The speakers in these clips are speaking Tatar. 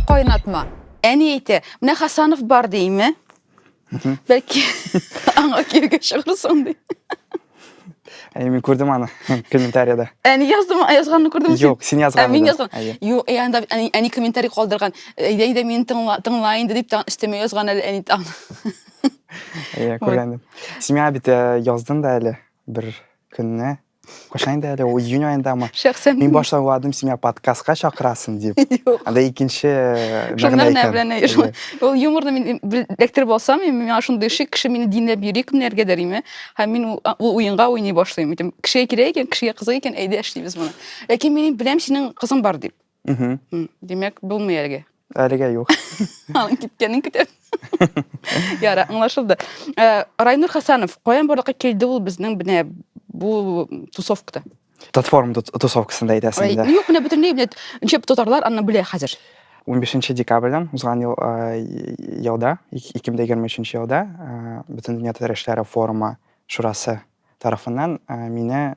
Кайнатма. Әни әйтә, менә Хасанов бар дейме? Бәлки аңа киргә чыгырсың ди. Әй, мин күрдем аны комментарияда. Әни яздым, язганны күрдем. Юк, син язган. Мин язган. Юк, әй анда әни комментарий калдырган. Әйдә, әйдә, мин тыңла инде дип өстәмә язган әле әни таң. Әй, күргәндем. Син миңа бит яздың да әле бер көнне. Кайчан инде әле ул июнь аендамы? Шәхсән мин башта уйладым, син меня подкастка чакырасың дип. Юк. Анда икенче э, мәгънә икән. Белән, э, ул юморны мин электр булсам, миңа шундый шик, кеше мине динләп йөри кемнәргә дәриме? Һәм мин ул уенга уйный башлыйм. Әйтәм, кешегә кирәк икән, кешегә кызык икән, әйдә эшлибез моны. Ләкин мин беләм, синең кызың бар дип. Мгм. М, Димәк, булмый әлегә. Әлегә юк. Аның киткәнен көтәбез. Яра, аңлашылды. Э, Райнур Хасанов, каян барлыкка килде ул безнең менә бу тусовкада? Татформ тус- тусовкасында әйтәсең Ай, инде. Юк, менә бөтенләй менә ничек татарлар аны белә хәзер. 15 декабрьдән узган ел, э, е- елда, ик- 2023 елда э, Бөтендөнья татар эшләре форумы шурасы тарафыннан э, мине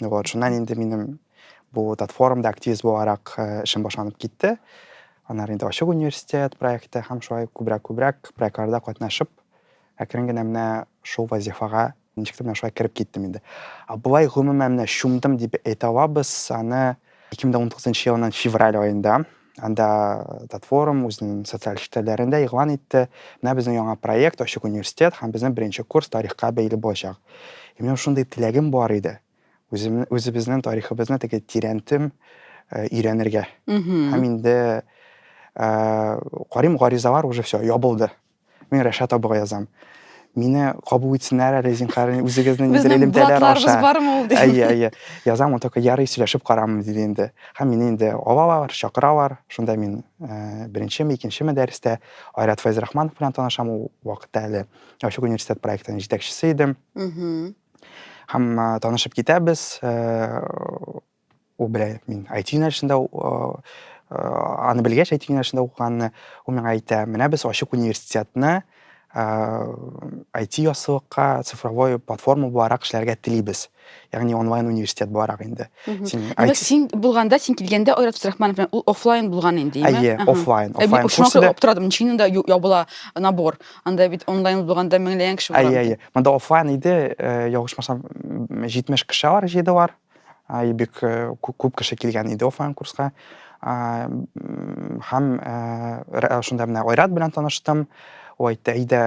Вот, шуннан инде минем бу тат форумда активист буларак э, эшем башланып китте. Аннары инде ачык университет проекты һәм шулай күбрәк-күбрәк проектларда катнашып, әкрен генә менә шул вазифага ничек тә менә шулай кереп киттем инде. Ә болай гомумән менә чумдым дип әйтә алабыз, аны 2019 елның февраль аенда Анда платформ үзенең социаль челтәрләрендә игълан итте. Менә безнең яңа проект Ачык университет һәм безнең беренче курс тарихка бәйле булачак. И минем шундый теләгем бар иде. Үзем үзебезнең тарихыбызны теге тирәнтем өйрәнергә. Һәм инде карим гаризалар уже все ябылды. Мин Рәшат абыга язам. Мине кабул итсеннәр әле, зинхар, үзегезнең нидер элемтәләр аша. Безнең бар ул дип. Әйе, әйе. Язам, ул только ярый сөйләшеп карамын диде инде. Һәм мине инде алалар, чакыралар. Шунда мин э, беренчеме, икенчеме дәрестә Айрат Файзрахманов белән танышам ул вакытта әле. Ачык университет проектының җитәкчесе идем. Һәм э, танышып китәбез. Э, ул белә мин IT юнәлешендә аны белгәч IT юнәлешендә укыганны ул миңа әйтә менә без ачык университетны IT ясылыкка цифровой платформа буларак эшләргә телибез ягъни онлайн университет буларак инде син син булганда син килгәндә айрат абдрахманов белән ул офлайн булган инде әйе офлайн офлайн курсы да торадым ничегенә да ябыла набор анда бит онлайн булганда меңләгән кеше әйе әйе монда офлайн иде ялгышмасам җитмеш кеше бар җыйдылар и бик күп кеше килгән иде офлайн курска һәм шунда менә айрат белән таныштым ул әйтте әйдә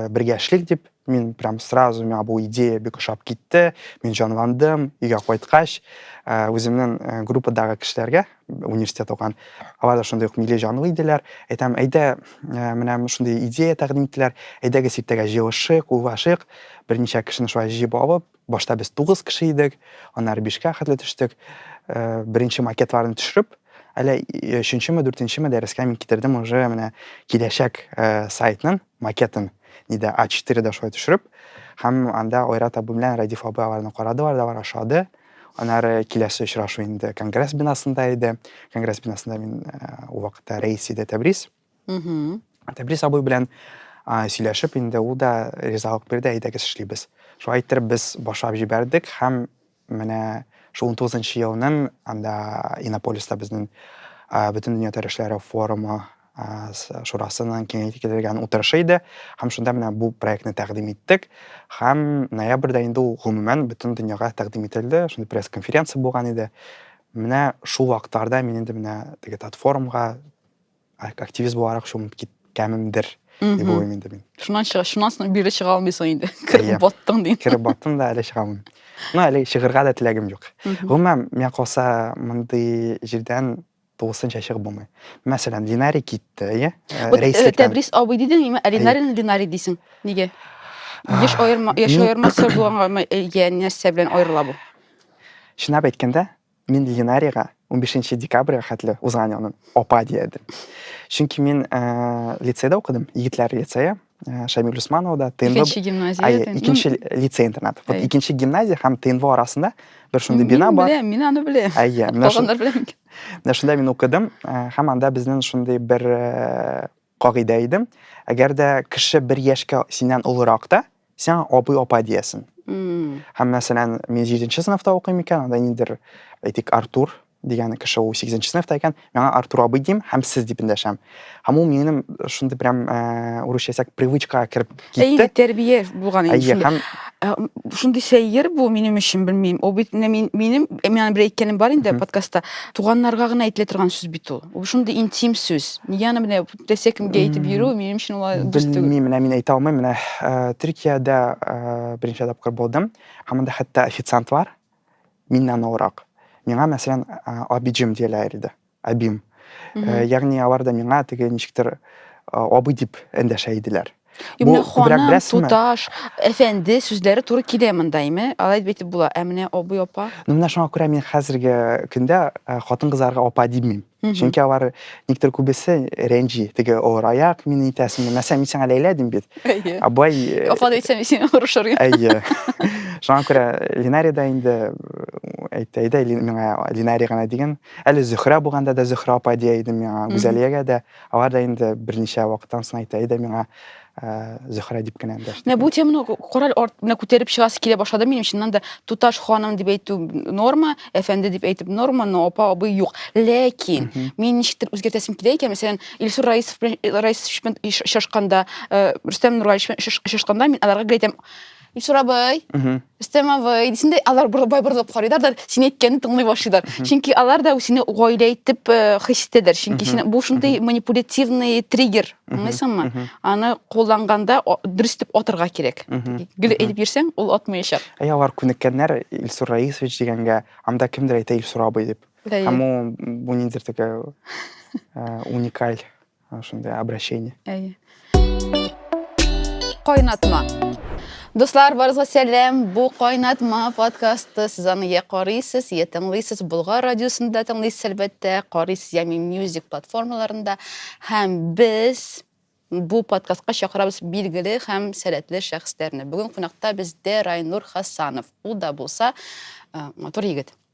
бергә эшлик дип мин прям сразу миңа бу идея бик ошап китте мин җанландым өйгә кайткач үземнең группадагы кешеләргә университет укыган алар да шундый ук милли җанлы иделәр әйтәм әйдә менә шундый идея тәкъдим иттеләр әйдәгез иртәгә җыелышыйк уйлашыйк берничә кешене шулай җыеп алып Башта без тугыз кеше идек, аннары бишкә хәтле төштек. Э, беренче макетларны төшереп, әле өченчеме, дүртенчеме дәрескә мин китердем уже менә киләчәк э, сайтның макетын, нидә А4-дә шулай төшереп, һәм анда Айрат абый белән Радиф абый аларны карадылар да бар ашады. Аннары киләсе очрашу инде конгресс бинасында иде. Конгресс бинасында мин э, ул вакытта рәис иде Тәбрис. тәбрис абый белән сөйләшеп инде ул да ризалык бирде әйдәгез эшлибез шулай иттереп без башлап җибәрдек һәм менә шул он тугызынчы елның анда иннополиста безнең бөтен дөнья тәрешләре форумы шурасының киңәйтелгән утырышы иде һәм шунда менә бу проектны тәкъдим иттек һәм ноябрьдә инде ул гомумән бөтен дөньяга тәкъдим ителде шундый пресс конференция булган иде менә шул вакытларда мин инде менә теге татфорумга активист буларак чумып киткәнемдер дип уйлыйм инде мин шуннан чыга шуннан соң бирле чыга алмыйсың инде кереп баттың дим кереп баттым да әле чыга алмыйм ну әле чыгырга да теләгем юк гомумән миңа калса мондый җирдән тулысынча чыгып булмый мәсәлән динарий китте иә тәбрис абый дидеңме ә динарийны динарий дисең нигә еш аерма яшь аермасы булганга иә нәрсә белән аерыла бу чынлап әйткәндә Мин Ленарийга 15 нче декабрьгә хәтле узган елны апа дия идем. Чөнки мин ә, лицейда укыдым, егетләр лицее, ә, Шамил Усмановда, ТНВ. Икенче гимназия. Ай, ТНВ. икенче лицей-интернат. Вот Әй. икенче гимназия һәм ТНВ арасында бер шундый Мин бина бар. беләм, мин аны беләм. Әйе, менә шун- Калганнар беләм. менә шунда мин укыдым ә, һәм анда безнең шундый бер ә, кагыйдә иде. Әгәр дә кеше бер яшькә синнән олырак та, сиңа абый апа диясен һәм мәсәлән мин җиденче сыйныфта укыйм икән анда ниндидер әйтик артур дигән кеше ул сигезенче сыйныфта икән миңа артур абый дим һәм сез дип эндәшәм һәм ул минем шундый прям э, урысча әйтсәк привычкага кереп китте тәрбия булган инде һәм э, шундый сәер бу минем өчен белмим ул бит менә минем э, миңа бер әйткәнем бар инде подкастта туганнарга гына әйтелә торган сүз бит ул ул шундый интим сүз нигә аны менә Рәсия кемгә әйтеп йөрү, минем өчен ул дөрес түгел. Белмим, менә мин әйтә алмыйм. Менә э, Төркиядә э, беренче тапкыр булдым. Һәм анда хәтта официант бар. Миннән олырак. Миңа, мәсәлән, э, абиджим диеләр иде. Абим. Ягъни алар да миңа теге ничектер абый дип эндәшә иделәр. Бу Менә күбрәк ханым, беләсеңме? туташ, әфәнде сүзләре туры килә монда, име? Алай дип әйтеп була. Ә менә абый, апа? Ну, менә шуңа күрә мин хәзерге көндә э, хатын-кызларга апа димим. Мгм. Чөнки алар никтер күбесе рәнҗи. Теге авыр аяк, мине итәсеңме? Мәсәлән, мин сиңа Ләйлә дим бит. Әйе. Ә бай э, Апа да әйтсәм, сине орышыр идем. Әйе. Шуңа күрә Линари да инде э, әйтте, әйдә Ли- миңа Линари гына диген. Әле Зөһрә булганда да Зөһрә апа дия идем миңа, Гүзәлиягә дә. Алар да инде берничә вакыттан соң әйтә иде миңа Зөһрә дип кенә дәште. Менә бу теманы корал арт менә күтәреп чыгасы килә башлады минем чыннан да туташ ханым дип әйтү норма, әфәнде дип әйтеп норма, но апа абый юк. Ләкин мин ничектер үзгәртәсем килә икән, мәсәлән, Илсур Раисов белән Раисович белән очрашканда, Рөстәм Нургалиевич белән очрашканда мин аларга гел әйтәм, Ишрабый, Истемавый, дисендә алар бай борылып карыйлар да син әйткәнне тыңлый башлыйлар. Чөнки алар да сине гаилә итеп э, хис итәләр. Чөнки син бу шундый манипулятивный триггер, аңлыйсыңмы? Аны кулланганда дөрес итеп атырга кирәк. Гел әйтеп йөрсәң, ул атмаячак. Әй алар күнеккәннәр Илсур Раисович дигәнгә, анда кемдер әйтә Илсур абый дип. Һәм ул бу ниндидер такая э, уникаль Шундый обращение. Әйе. Кайнатма. Дуслар, барызга сәлам. Бу кайнатма подкасты. Сез аны я карыйсыз, я тыңлыйсыз. Булгар радиосында тыңлыйсыз, әлбәттә. Карыйсыз ями мьюзик платформаларында. Һәм без бу подкастка чакырабыз билгеле һәм сәләтле шәхесләрне. Бүген кунакта бездә Райнур Хасанов. Ул да булса матур егет.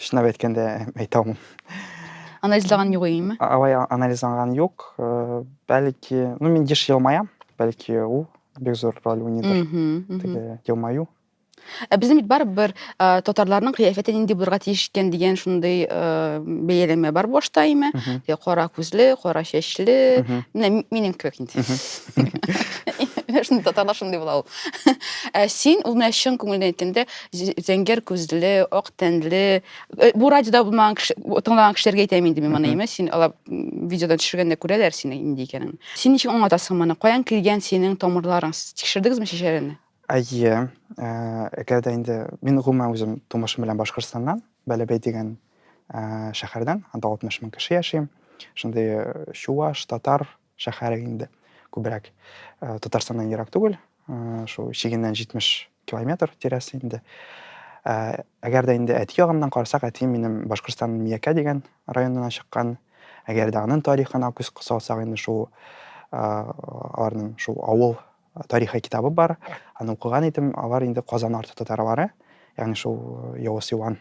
Чынлап әйткәндә, әйтә алмыйм. Анализлаган юк имме? Алай анализланган юк. Э, бәлки, ну мин еш елмаям, бәлки ул бик зур роль уйныйдыр. Теге елмаю. Ә безнең бит барыбер э, татарларның кыяфәте нинди булырга тиеш икән дигән шундый э, бәяләмә бар башта име? Кара күзле, кара чәчле. Менә минем кебек инде. Шундый татарлар шундый була ул. Ә син ул менә чын күңелдән әйткәндә зәңгәр күзле, ак тәнле, э, бу радиода булмаган кеше, тыңлаган кешеләргә әйтәм инде мин моны, имеш, син алар видеодан төшергәндә күрәләр сине нинди икәнен. Син ничек аңлатасың моны? Каян килгән синең тамырларың? Сез Тикшердегезме шешәләрне? Әйе, э, әгәр дә инде мин гомумән үзем тумышым белән Башкортстаннан, Бәләбәй дигән э, шәһәрдән, анда 60 мең кеше яши. Шундый э, чуваш, татар, шәһәре инде күбрәк э, татарстаннан ерак түгел э, шул чигеннән 70 километр тирәсе инде э, әгәр дә инде әти ягымнан карасак әтием минем башкортстанның миякә дигән районына чыккан әгәр дә аның тарихына күз салсак инде шул аларның шул авыл тарихы китабы бар аны укыган идем алар инде казан арты татарлары ягъни шул явыз юан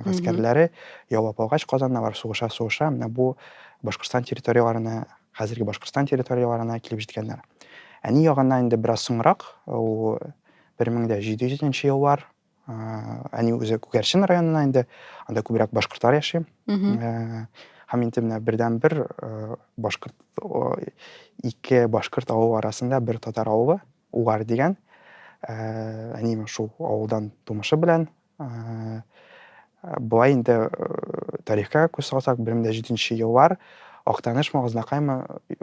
гаскәрләре яулап алгач Казанны алар сугыша сугыша менә бу Башкортстан территорияләренә хәзерге Башкортстан территорияләренә килеп җиткәннәр. Әни ягыннан инде бераз соңрак, ул 1700 еллар әни үзе Күгәрчен районына инде, анда күбрәк башкортлар яши. Һәм инде менә бердәнбер башкорт ике башкорт авылы арасында бер татар авылы Угар дигән. Әнием шул авылдан тумышы белән Болай инде тарихка күз салсак, 17 еллар Актаныш Магызнакаймы,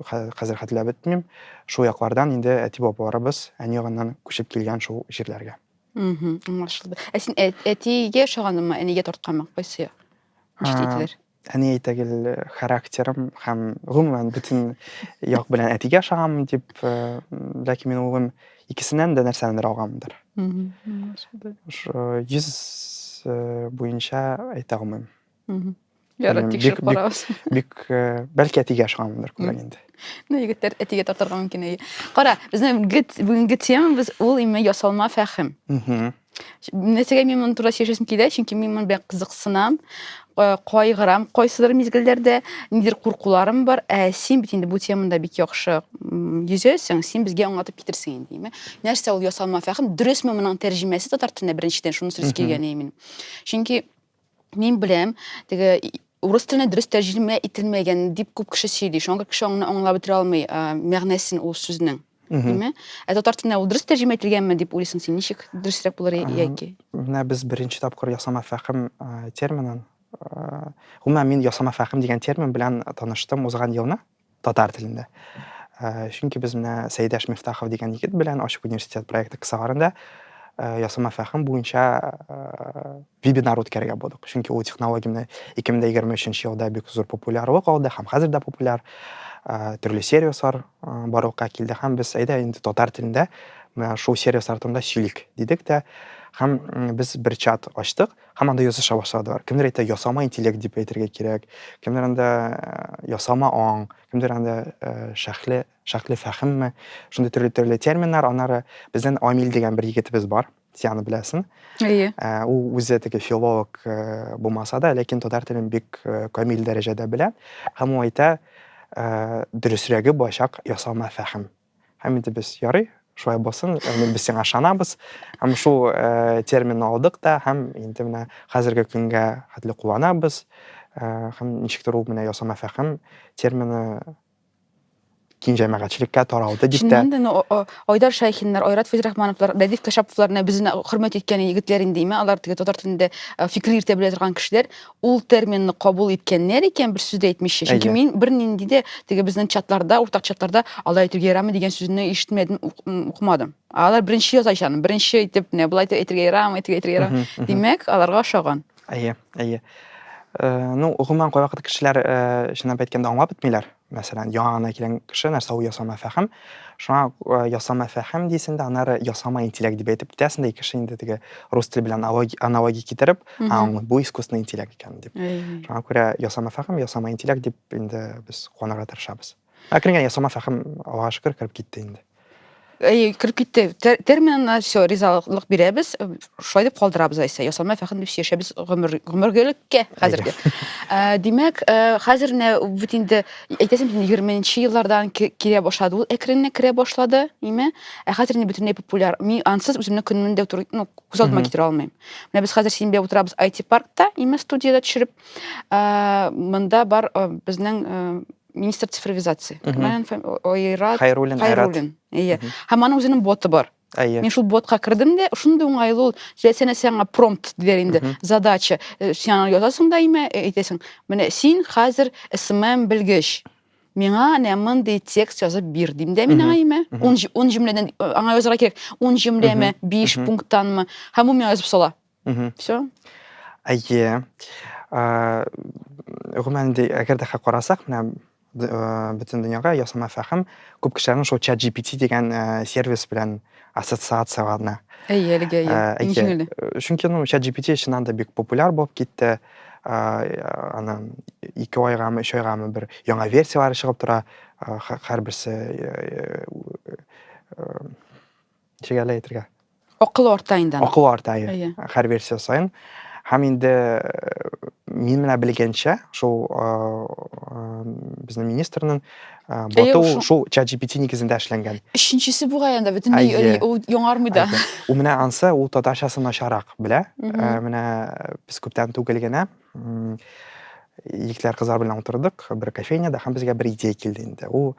хәзер хәтерләп бетмим, шул яклардан инде әти-бабаларыбыз әни ягыннан күчеп килгән шул җирләргә. Аңлашылды. Ә син әтигә ошаганыңмы, әнигә тартканмы? Кайсы җитәкләр? әни әйтә гел характерым һәм гомумән бөтен як белән әтигә ошаганмын дип э, ләкин мин улым икесеннән дә нәрсәнедер алганмындыр ошо йөз э, буенча әйтә алмыйм ярар тикшереп карабыз бик э, бәлки әтигә ошаганмындыр күбрәк инде ну егетләр әтигә тартырга мөмкин әйе кара безнең бүгенге темабыз ул именно ясалма фәһем Нәрсәгә мин моны турында сөйләшәсем килә, чөнки мин моны белән кызыксынам, э, кайгырам кайсыдыр мизгелләрдә, нидер куркуларым бар. Ә син бит инде бу темада бик яхшы йөзәсең, син безгә аңлатып китерсең инде, димме? Нәрсә ул ясалма фәхем? Дөресме моның тәрҗемәсе татар теленә беренчедән, шуны сөйләс килгән мин. Чөнки Мин беләм, теге урыс теленә дөрес тәрҗемә ителмәгән дип күп кеше сөйли. Шуңа кеше аңны аңлап бетерә алмый, мәгънәсен ул сүзнең. Димме? Ә татар теленә ул дөрес тәрҗемә ителгәнме дип уйлыйсың син? Ничек дөресрәк булыр яки? Менә без беренче тапкыр ясама фәхем терминын, гомумән мин ясама фәхем дигән термин белән таныштым узган елны. Татар телендә. Э, чөнки без менә Сәйдәш Мифтахов дигән егет белән Ачык университет проекты кысаларында э, ясалма фәһем буенча э, вебинар үткәрергә булдык. Чөнки ул технология менә 2023 елда бик зур популярлык алды һәм хәзер дә популяр. Төрле сервислар барлыкка килде һәм без әйдә инде татар телендә менә шул сервис артында сөйлик дидек тә һәм без бер чат ачтык Һәм анда языша башладылар. Кемдер әйтә, ясама интеллект дип әйтергә кирәк. Кемдер анда э, ясама аң, кемдер анда э, шәхле, шәхле фәхемме. Шундый төрле-төрле терминнар. Аннары безнең Амил дигән бер егетебез бар. Син аны беләсең. Әйе. Э, ул үзе теге филолог булмаса да, ләкин татар телен бик камил дәрәҗәдә белә. Һәм ул әйтә, дөресрәге башак ясама фәхем. Һәм инде без ярый, шулай булсын, әмин без сиңа ышанабыз. Һәм шул э, терминны алдык та һәм инде менә хәзерге көнгә хәтле кулланабыз. Э, һәм ничектер ул менә ясама фәһем термины киң җәмәгатьчелеккә таралды дип тә. Чыннан да Айдар Шәйхиннар, Айрат Фәйзрахмановлар, Дәдиф Кәшәповларны безне хөрмәт иткән егетләр инде, имә алар теге татар телендә э, фикер йөртә белә торган кешеләр. ул терминны кабул иткәннәр икән, бер сүз дә әйтмичә. Чөнки Әйе. мин бернинди дә теге безнең чатларда, уртак чатларда алай итүгә ярамый дигән сүзне ишетмәдем, ук- м, укымадым. Алар беренче яза икән, беренче итеп менә болай итеп әйтергә ярамый, итеп әйтергә ярамый. Мгм, мгм. Димәк, аларга ошаган. Әйе, әйе. Э, Ну, гомумән, кайвакыт кешеләр, э, чынлап әйткәндә, аңлап бетмиләр. мәсәлән, яңа гына килгән кеше нәрсә ул ясама фәһем. Шуңа э, ясама фәһем дисен дә, аннары ясама интеллект дип әйтеп китәсен дә, кеше инде теге рус теле белән аналогия китереп, а, бу искусственный интеллект икән дип. Шуңа күрә ясама фәһем, ясама интеллект дип инде без куанырга тырышабыз. Ә кергән ясама фәһем, Аллага шөкер, кереп китте инде. Әй, кереп китте. Тер- Терминына все, ризалык бирәбез. Шулай дип калдырабыз Айса. Ясалма фәхем дип яшәбез гомер гомергелеккә хәзерге. Ә, Димәк, ә, хәзер менә бит инде әйтәсем инде 20-нче еллардан ки- килә башлады. Ул әкренләп керә башлады, име? Ә хәзер инде бөтенләй популяр. Мин ансыз үземне көнемне дә утыр, ну, күз алдыма Мгм. китерә алмыйм. Менә без хәзер синбә утырабыз IT-паркта, име, студияда төшереп. Ә, Монда бар ә, безнең ә, министр цифровизация айрат хайруллин айрат иә һәм аның үзенең боты бар әйе мин шул ботка кердем дә шундый уңайлы ул сәнә сиңа промпт диләр инде задача э, сиңа язасың да имә э, әйтәсең менә син хәзер смм белгеч миңа әнә мондый текст язып бир дим дә мин аңа имә он җөмләдән э, аңа язарга кирәк он җөмләме биш пункттанмы һәм ул миңа язып сала Мгм. Всё. Әйе. Э, гомумән инде әгәр дә карасак, менә б э, бөтен дөньяга ясалма фәһем күп кешеләрнең шул ChatGPT дигән э, сервис белән ассоциацияләнә. Әйе, әлегә әйе. Э, әйе. Ничек әле? Э, Чөнки ну ChatGPT чыннан да бик популяр булып китте. Э, Аны ике айгамы, өч айгамы бер яңа версияләре чыгып тора. Э, һә- Һәрберсе э, э, э, ничек әле әйтергә акылы арта инде аның акылы арта иә һәр версия саен һәм инде мин менә белгәнчә шул безнең министрның боту шул чат gpt нигезендә эшләнгән өченчесе бугай анда бөтенләй ул яңармый да ул менә ансы ул татарчасын начаррак белә менә без күптән түгел генә егетләр кызлар белән утырдык бер кофейняда һәм безгә бер идея килде инде ул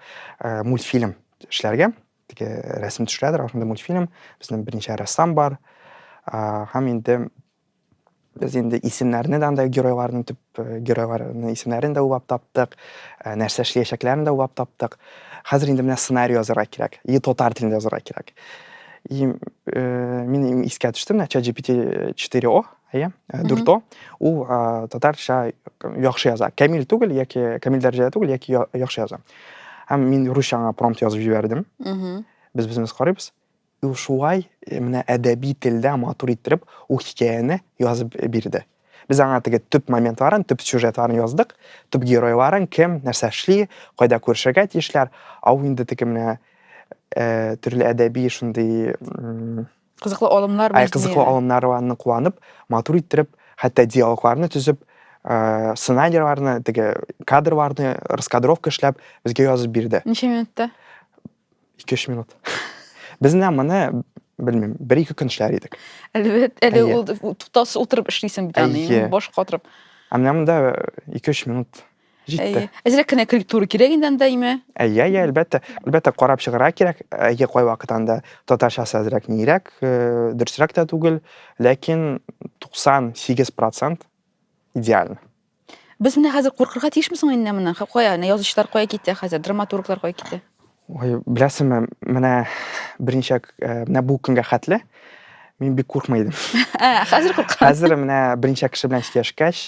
мультфильм эшләргә теге рәсем төшерәдер ошондой мультфильм безнең беренче рәссам бар һәм инде без инде исемнәрне дә андай геройларның төп э, геройларының исемнәрен дә уйлап таптык э, нәрсә эшләячәкләрен дә уйлап таптык хәзер инде менә сценарий язырга кирәк и татар телендә язырга кирәк и э, мин искә төштем менә чат gpt 4 о Әйе, э, дүрто. Ул э, татарча яхшы яза. Камил түгел яки камил дәрәҗәдә түгел яки я- яхшы яза. Һәм мин русча аңа промпт язып җибәрдем. Мгм. Без безмез карыйбыз. И Ул шулай э, менә әдәби телдә матур иттереп ул хикәяне язып бирде. Без аңа теге төп моментларын, төп сюжетларын яздык, төп геройларын, кем, нәрсә эшли, кайда күрешергә тиешләр. Ә ул инде теге менә э, төрле әдәби шундый м, Кызыклы алымнар Ай, кызыклы алымнарны куанып, матур иттереп, хәтта диалогларны төзеп, ә, сценарийларны, теге кадрларны, раскадровка эшләп, безгә язып бирде. Ничә минутта? 2-3 минут. Без менә моны, белмим, бер-ике көн эшләр идек. Әлбәт, әле ул туктаусыз утырып эшлисең бит аны, баш катырып. Ә менә монда 2-3 минут. Җитте. Әйе. Әзрәк кенә корректура кирәк инде анда име? Әйе, әйе, әлбәттә. Әлбәттә, карап чыгарга кирәк. Әйе, кайвакыт анда татарчасы әзрәк нирәк, э, дөресрәк тә түгел, ләкин 98% идеально. Без менә хәзер куркырга тиешме соң инде моннан? Ха, Кая, менә язучылар кая китә хәзер, драматурглар кая китә? Ой, беләсеңме, менә берничә э, менә бу көнгә хәтле мин бик куркмый идем. Ә, хәзер куркам. Хәзер менә берничә кеше белән сөйләшкәч,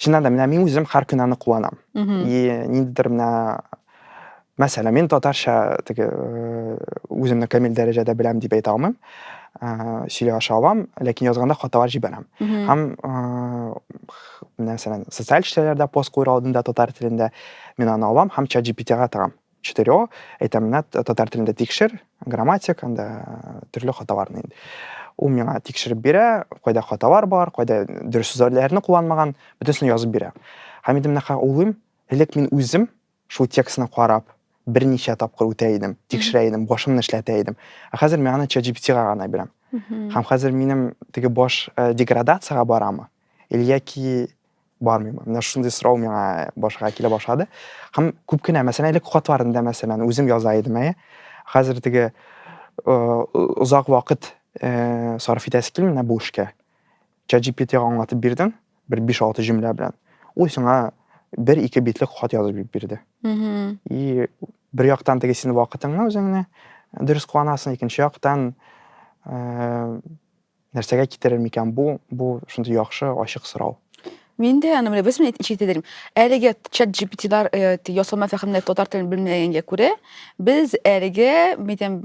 чыннан да менә мин үзем һәр көн аны куанам. И ниндидер менә мәсәлән, мин татарча теге э, үземне камил дәрәҗәдә беләм дип әйтә алмыйм. Э, сөйләшә алам, ләкин язганда хаталар җибәрәм. Һәм мәсәлән, социаль челтәрләрдә пост куер алдында татар телендә мин аны алам һәм чат GPT-га тыгам. Четырео, әйтәм, менә татар телендә тикшер, грамматик, анда э, төрле хаталарны инде. Ул миңа тикшереп бирә, кайда хаталар бар, кайда дөрес сүзләрне кулланмаган, бөтенесен язып бирә. Һәм инде менә уйлыйм, элек мин үзем Шул текстны карап, берничә тапкыр үтә идем, тикшерә идем, башымны эшләтә идем. Ә хәзер мин аны ChatGPT-га гына бирәм. Һәм хәзер минем теге баш э, деградациягә барамы? Или яки бармыймы? Менә шундый сорау миңа башка килә башлады. Һәм күп кенә, мәсәлән, элек хатларында, мәсәлән, үзем яза идем, әйе. Хәзер теге э, озак вакыт э, сарыф итәсе килми менә бу эшкә. ChatGPT-га аңлатып бирдең, бер 5-6 җөмлә белән. Ул сиңа бер-ике битлек хат язып бирде. И бер яктан теге син вакытыңны үзеңне дөрес кыланасың, икенче яктан э, нәрсәгә китерер микән бу? Бу шундый яхшы ачык сорау. Мин дә аны менә без менә ишетә дидем. Әлеге чат GPT-лар ясалма фәһемле татар телен белмәгәнгә күрә, без әлеге мәйтәм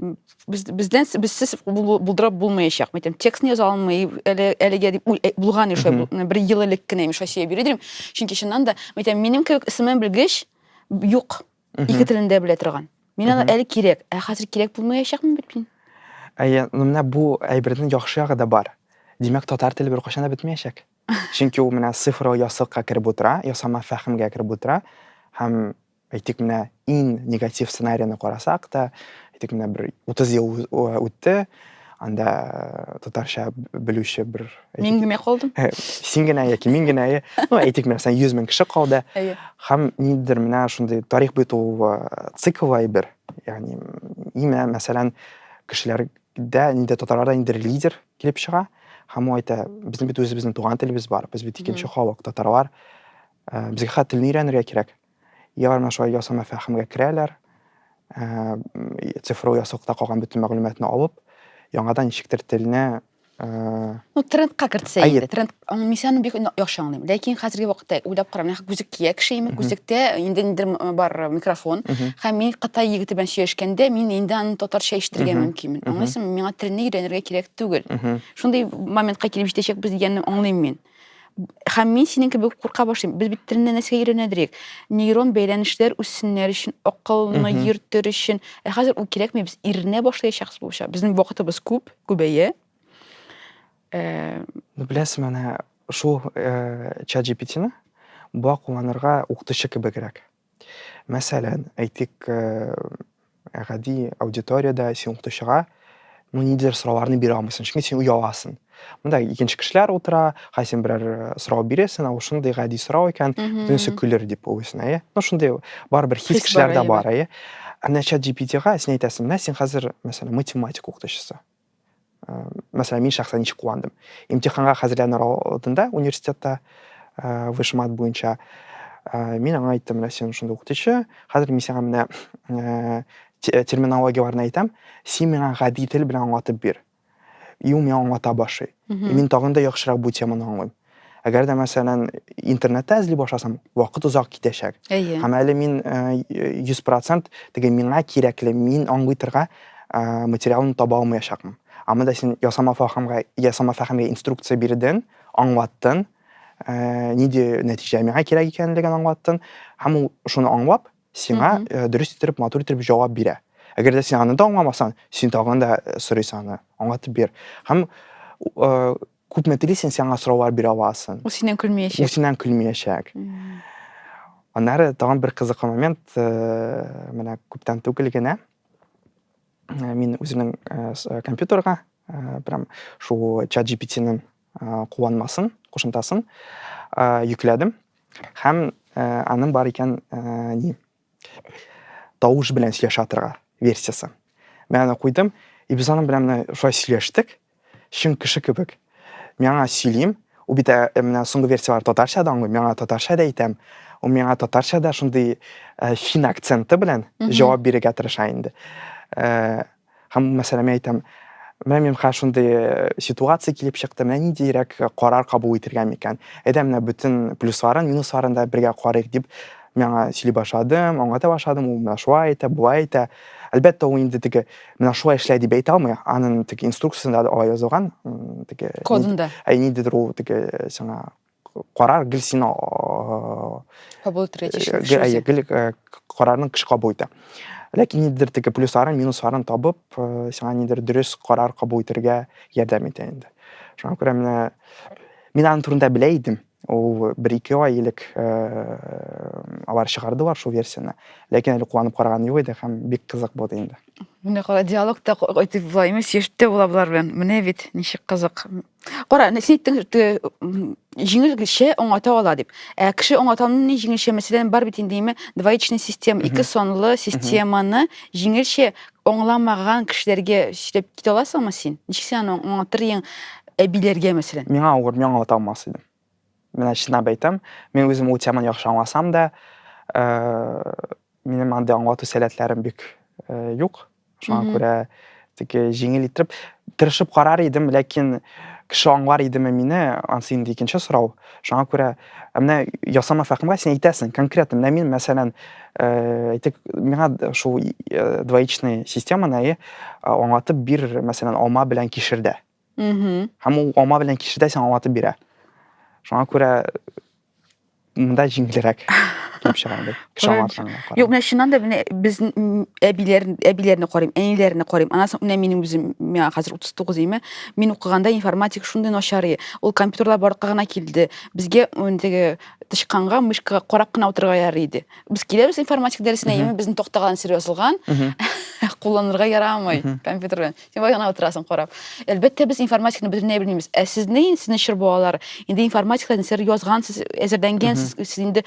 без бездән безсез булдырып булмаячак. Мәйтәм, текстны яза алмый, әле әлегә дип э, булган ише бер ел элек кенә мин Россия бирә дим. Чөнки чыннан да, мәйтәм, минем кебек исемен белгеч юк. Ике телендә белә торган. Мин аны әле кирәк, ә хәзер кирәк булмаячакмын бит мин. Әйе, ну менә бу әйбернең яхшы ягы да бар. Димәк, татар теле беркайчан да бетмәячәк. Чөнки ул менә цифрлы ясылыкка кереп утыра, ясама фәһемгә кереп утыра һәм Әйтик, менә иң негатив сценарийны карасак та, әйтик, менә бер 30 ел үтте, анда э, татарча белүче бер мин генә калдым э, син генә яки мин генә э, ну әйтик мәсәлән йөз мең кеше калды һәм ниндидер менә шундый тарих бетү цикл әйбер ягъни имә мәсәлән кешеләрдә инде татарларда инде лидер килеп чыга һәм ул әйтә безнең бит үзебезнең туган телебез бар без бит икенче халык татарлар безгә хәтта телне өйрәнергә кирәк Еллар менә шулай ясама фәһемгә керәләр, цифру ясылыкта калган бөтен мәгълүматны алып, яңадан ничектер телне Ну, трендка кертсә инде. Тренд аңлыйсың, бик яхшы аңлыйм. Ләкин хәзерге вакытта уйлап карам, нәкъ күзек кия кеше имек, күзектә инде ниндер бар микрофон. Һәм мин Кытай егете белән сөйләшкәндә, мин инде аны татарча ишетергә мөмкинмен. Аңлыйсыңмы? Миңа телне өйрәнергә кирәк түгел. Шундый моментка килеп җитәчәкбез дигәнне аңлыйм мин. Һәм мин синең кебек курка башлыйм. Без бит телне нәрсәгә өйрәнәдерик? Нейрон бәйләнешләр үссеннәр өчен, акылны йөртер өчен. Ә хәзер ул кирәкми, без иренә башлаячакбыз булачак. Безнең вакытыбыз күп, күбәя. Э, ну, беләсең, менә шул э, чат GPT-ны буа кулланырга укытучы кебегрәк. Мәсәлән, әйтик, э, гади аудиториядә син укытучыга ну ниндидер сорауларны бирә алмыйсың, чөнки син ояласың. Монда икенче кешеләр утыра, хай син берәр э, сорау бирәсең, ә ул шундый гади сорау икән, бөтенесе көлер дип уйлыйсың, әйе? Ну шундый барыбер хис кешеләрдә бар, әйе? Ә менә чат GPT-га син әйтәсең, менә син хәзер, мәсәлән, математика укытучысы. мәсәлән мин шәхсән ничек куандым имтиханга хәзерләнер алдында университетта вышмат буенча мин аңа айттым менә син шунда укытучы хәзер мин сиңа менә терминологияләрне әйтәм син миңа гади тел белән аңлатып бир и ул миңа аңлата башлый мин тагын да яхшырак бу теманы аңлыйм Әгәр дә мәсәлән интернетта эзли башласам, вакыт озак китәчәк. Һәм әле мин 100% теге миңа кирәкле, мин аңлый торган материалны таба алмаячакмын. Ә монда син ясама фәһемгә, ясама фәһемгә инструкция бирдең, аңлаттың, нинди нәтиҗә миңа кирәк икәнлеген аңлаттың, һәм ул шуны аңлап, сиңа дөрес итеп, матур итеп җавап бирә. Әгәр дә син аны да аңламасаң, син тагын да сорыйсың аны, аңлатып бир. Һәм Күпме телисең, сиңа сораулар бирә аласың. Ул синнән көлмиячәк. Ул синнән көлмиячәк. Аннары тагын бер кызыклы момент, э, менә күптән түгел генә э, мин үземнең э, компьютерга прям шул чат GPT-ның кулланмасын, кушымтасын йөкләдем һәм аның бар икән ни Тавыш белән сөйләшә торга версиясе. Мин аны куйдым, и без аның белән менә шулай сөйләштек, чын кеше кебек. Мин аңа сөйлим, ул бит ә, менә соңгы версияләр татарча да аңлый, мин аңа татарча да әйтәм. Ул миңа татарча да шундый фин акценты белән җавап бирергә тырыша инде. Һәм, мәсәлән, мин әйтәм, менә миңа шундый э, ситуация килеп чыкты, менә ниндирәк э, карар кабул итергә микән? Әйдә, менә бөтен плюсларын, минусларын да бергә карыйк дип, миңа сөйли башладым, аңлата башладым, ул менә шулай әйтә, болай әйтә. Әлбәттә, ул инде теге менә шулай эшлә дип әйтә алмый, аның теге инструкциясендә алай язылган, теге кодында. Ә ниндидер ул теге сиңа карар гел сине кабул итәргә тиеш гел карарның кеше кабул итә ләкин нидер теге плюсларын минусларын табып сиңа нидер дөрес карар кабул итәргә ярдәм итә инде шуңа күрә менә мин аның турында белә идем ул бер ике ай элек алар чыгардылар шул версияны ләкин әле кулланып караган юк иде һәм бик кызык булды инде менә кара диалогта әйтеп була имеш яшьтә була болар белән менә бит ничек кызык Кара, әнә син әйттең, те, м, җиңел кеше аңлата ала дип. Ә кеше аңлатуны ни җиңелчә мәсәлән бар бит инде име двоичный система, Мгм. ике санлы системаны җиңелчә аңламаган кешеләргә сөйләп китә аласыңмы син? Ничек син аны аңлатыр идең әбиләргә мәсәлән? Миңа авыр, мин аңлата алмас идем. Менә чынлап әйтәм, мин үзем ул теманы яхшы аңласам да, минем андый аңлату сәләтләрем бик юк. Шуңа күрә теге җиңел итеп тырышып карар идем, ләкин кеше аңлар идеме мине, ансы инде икенче сорау. Шуңа күрә менә ясама фәхимгә син әйтәсең, конкретно менә мин мәсәлән, әйтик, миңа шул двоичный системаны аңлатып бир, мәсәлән, алма белән кишердә. һәм ул алма белән кишердә сиңа ватып бирә шуңа күрә мында җиңелрәк килеп чыга инде кеше юк менә чыннан да менә безнең әбиләр әбиләрне карыйм әниләрне карыйм аннан соң менә минем үзем миңа хәзер утыз тугыз име мин укыганда информатика шундый начар ул компьютерлар барлыкка гына килде безгә теге тычканга мышкага карап кына утырырга ярый иде без киләбез информатика дәресенә яме безнең тактага серьез язылган кулланырга ярамый компьютер белән Син бай гына утырасың карап. Әлбәттә, без информатиканы бөтенләй белмибез. Ә сез ни, сезнең чор балалар, инде информатикада нәрсәләр язгансыз, әзерләнгәнсез, сез инде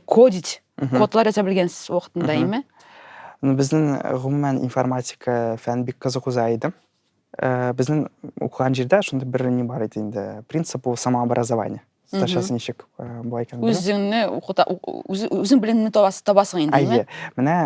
кодить, кодлар яза белгәнсез вакытында, әйме? Ну, безнең гомумән информатика фән бик кызыклы за иде. Э, безнең укыган җирдә шундый бер ни бар иде инде, принцип ул самообразование. сташасы ничек былай икән үзеңне укыта үзең белемне табасың инде әйе менә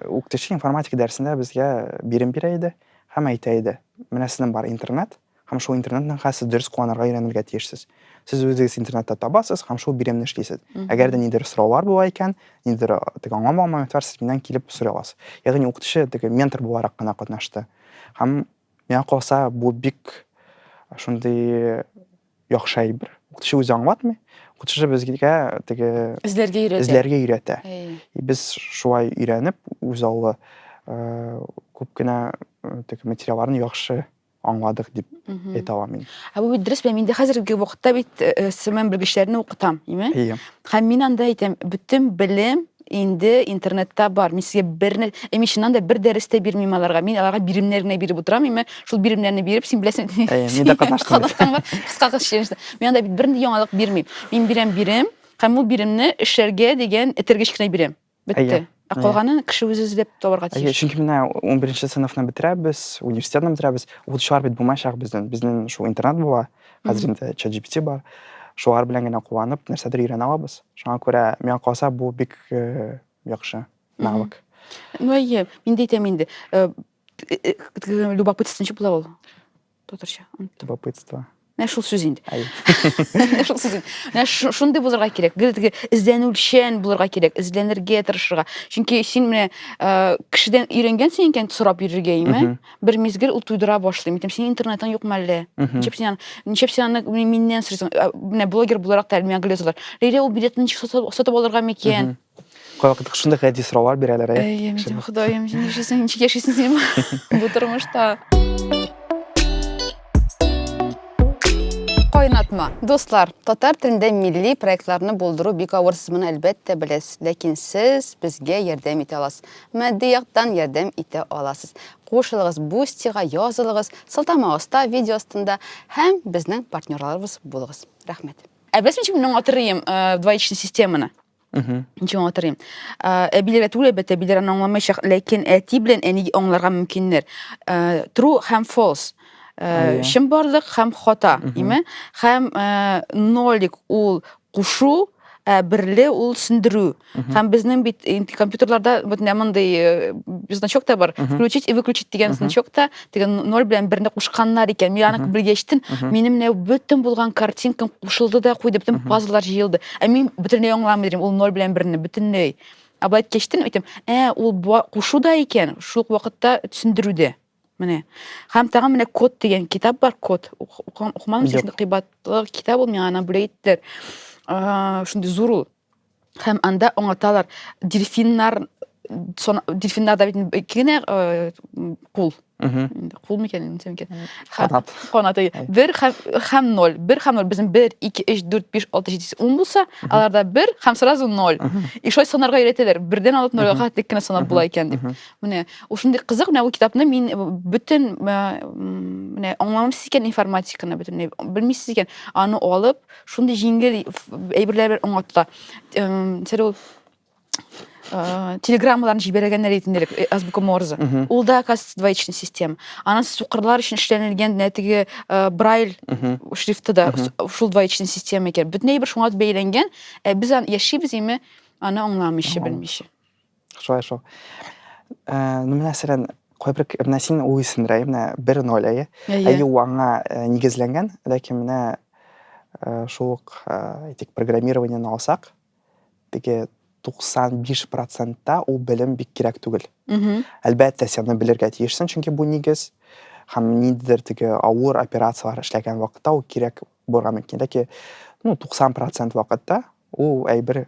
укытучы информатика дәресендә безгә бирем бирә иде һәм әйтә иде менә сезнең бар интернет һәм шул интернетның хәсез дөрес кулланырга өйрәнергә тиешсез сез үзегез интернетта табасыз һәм шул биремне эшлисез әгәр дә ниндидер сораулар була икән ниндидер теге аңламаган момент бар сез миннән килеп сорый аласыз ягъни укытучы теге ментор буларак кына катнашты һәм миңа калса бу бик шундый яхшы әйбер. Укытучы үзе аңлатмый, укытучы безгә теге эзләргә өйрәтә. Эзләргә өйрәтә. И без шулай өйрәнеп, үз аллы э, күп кенә э, теге материалларны яхшы аңладык дип әйтә алам мин. Ә бу бит дөрес белән миндә хәзерге вакытта бит э, э, сыман белгечләрне укытам, име? Һәм мин анда әйтәм, бөтен белем инде интернетта бар мин сезгә бер ә мин чыннан да бер дәрес тә бирмим аларга мин аларга биремнәр генә биреп утырам имә шул биремнәрне биреп син беләсең мин дә катнаштым кыска кыз челленджда мин анда бит бернинди яңалык бирмим мин бирәм бирем һәм ул биремне эшләргә дигән этергеч кенә бирәм бетте ә калганын кеше үзе эзләп табарга тиеш чөнки менә унберенче сыйныфны бетерәбез университетны бетерәбез укытучылар бит булмаячак безнең безнең шул интернат була хәзер инде чат gpt бар шулар белән генә куанып нәрсәдер өйрәнә алабыз шуңа күрә миңа калса бу бик э, яхшы навык ну әйе мин дә әйтәм инде э, э, э, любопытство ничек була ул татарча оныттым любопытство менә шул сүз инде әйе менә шул сүз инде менә шу- шундый булырга кирәк гел теге эзләнүчән булырга кирәк эзләнергә тырышырга чөнки син менә э, кешедән өйрәнгәнсең икән сорап йөрергә име Мгм. бер мизгел ул туйдыра башлый. Мин синең интернетың юк мәлле. Ничек син ничек син аны миннән сорыйсың? Менә блогер буларак та миңа гөлә язалар. Лилия ул билетны ничек сатып алырга микән? Кайвакыт шундый гади сораулар бирәләр. Әйе, мин Ходаем, син яшисең, ничек яшисең син бу тормышта? Кайнатма. Дуслар, татар телендә милли проектларны булдыру бик авыр, сез моны әлбәттә беләсез, ләкин сез безгә ярдәм итә аласыз. Матди яктан ярдәм итә аласыз. Кушылыгыз Бустига, язылыгыз, сылтама аста, видео астында һәм безнең партнерларыбыз булыгыз. Рәхмәт. Ә беләсең ничек мин аңлатырыйм э, двоичный системаны? Ничек аңлатырыйм? Э, Әбиләргә түгел, әлбәттә, әбиләр аны аңламаячак, ләкин әти белән әниге аңларга мөмкиннәр. Э, True һәм false. Э, Ая. Чынбарлык һәм хата, име? Һәм э, нолик ул кушу, ә берле ул сүндерү. Һәм безнең бит компьютерларда бөтенләй мондый э, значок та бар. Включить и выключить дигән значок та, теге ноль белән берне кушканнар икән. Мин аны белгәч яшьтен, минем менә бөтен булган картинкам кушылды да куйды, бөтен пазлар җыелды. Ә мин бөтенләй аңламый идем ул ноль белән берне, бөтенләй. Ә былай кичтен әйтәм, ә ул кушу да икән, шул вакытта сүндерү дә. Менә. Һәм тагын менә код дигән китап бар, код. Укымадым, чөнки кыйбатлы китап ул миңа ана бүләк иттеләр. Шундый зур ул. Һәм анда аңлаталар, дельфиннар дельфиннарда бит ике генә кул. Кул микән, ничә микән? Канат. Канат. Бер һәм ноль. Бер һәм ноль. Безнең бер, ике, өч, дүрт, биш, алты, җиде, сигез, ун булса, аларда бер һәм сразу ноль. И шулай санарга өйрәтәләр. Бердән алып нольгә кадәр тик кенә санап була икән дип. Менә ушундый кызык, менә бу китапны мин э, бөтен э, менә аңламыйсыз икән информатиканы бөтенләй, белмисез икән, аны алып, шундый җиңел әйберләр белән аңлата. Сәр ул э, телеграммаларын җибәргәннәр ит инде азбука Морзе. Ул да, оказывается, двоичный система. Анан сукырлар өчен эшләнелгән нә теге брайль шрифты да шул двоичный система икән. Бөтен әйбер шуңа бәйләнгән, ә без яшибез име аны аңламыйча, белмичә. Шулай шул. Э, ну, менә сирен, кой бир, менә син уйсын, рай, менә бир ноль, ай, ай, ай, уанга э, нигезленген, ләки менә э, шук, этик, программирование на осак, теге 95 процентта ул белем бик кирәк түгел. Әлбәттә, сен аны белергә тиешсен, чөнки бу нигез, һәм ниндидер теге авыр операцияләр эшләгән вакытта ул кирәк булырга мөмкин. Ләки, ну, 90 процент вакытта ул әйбер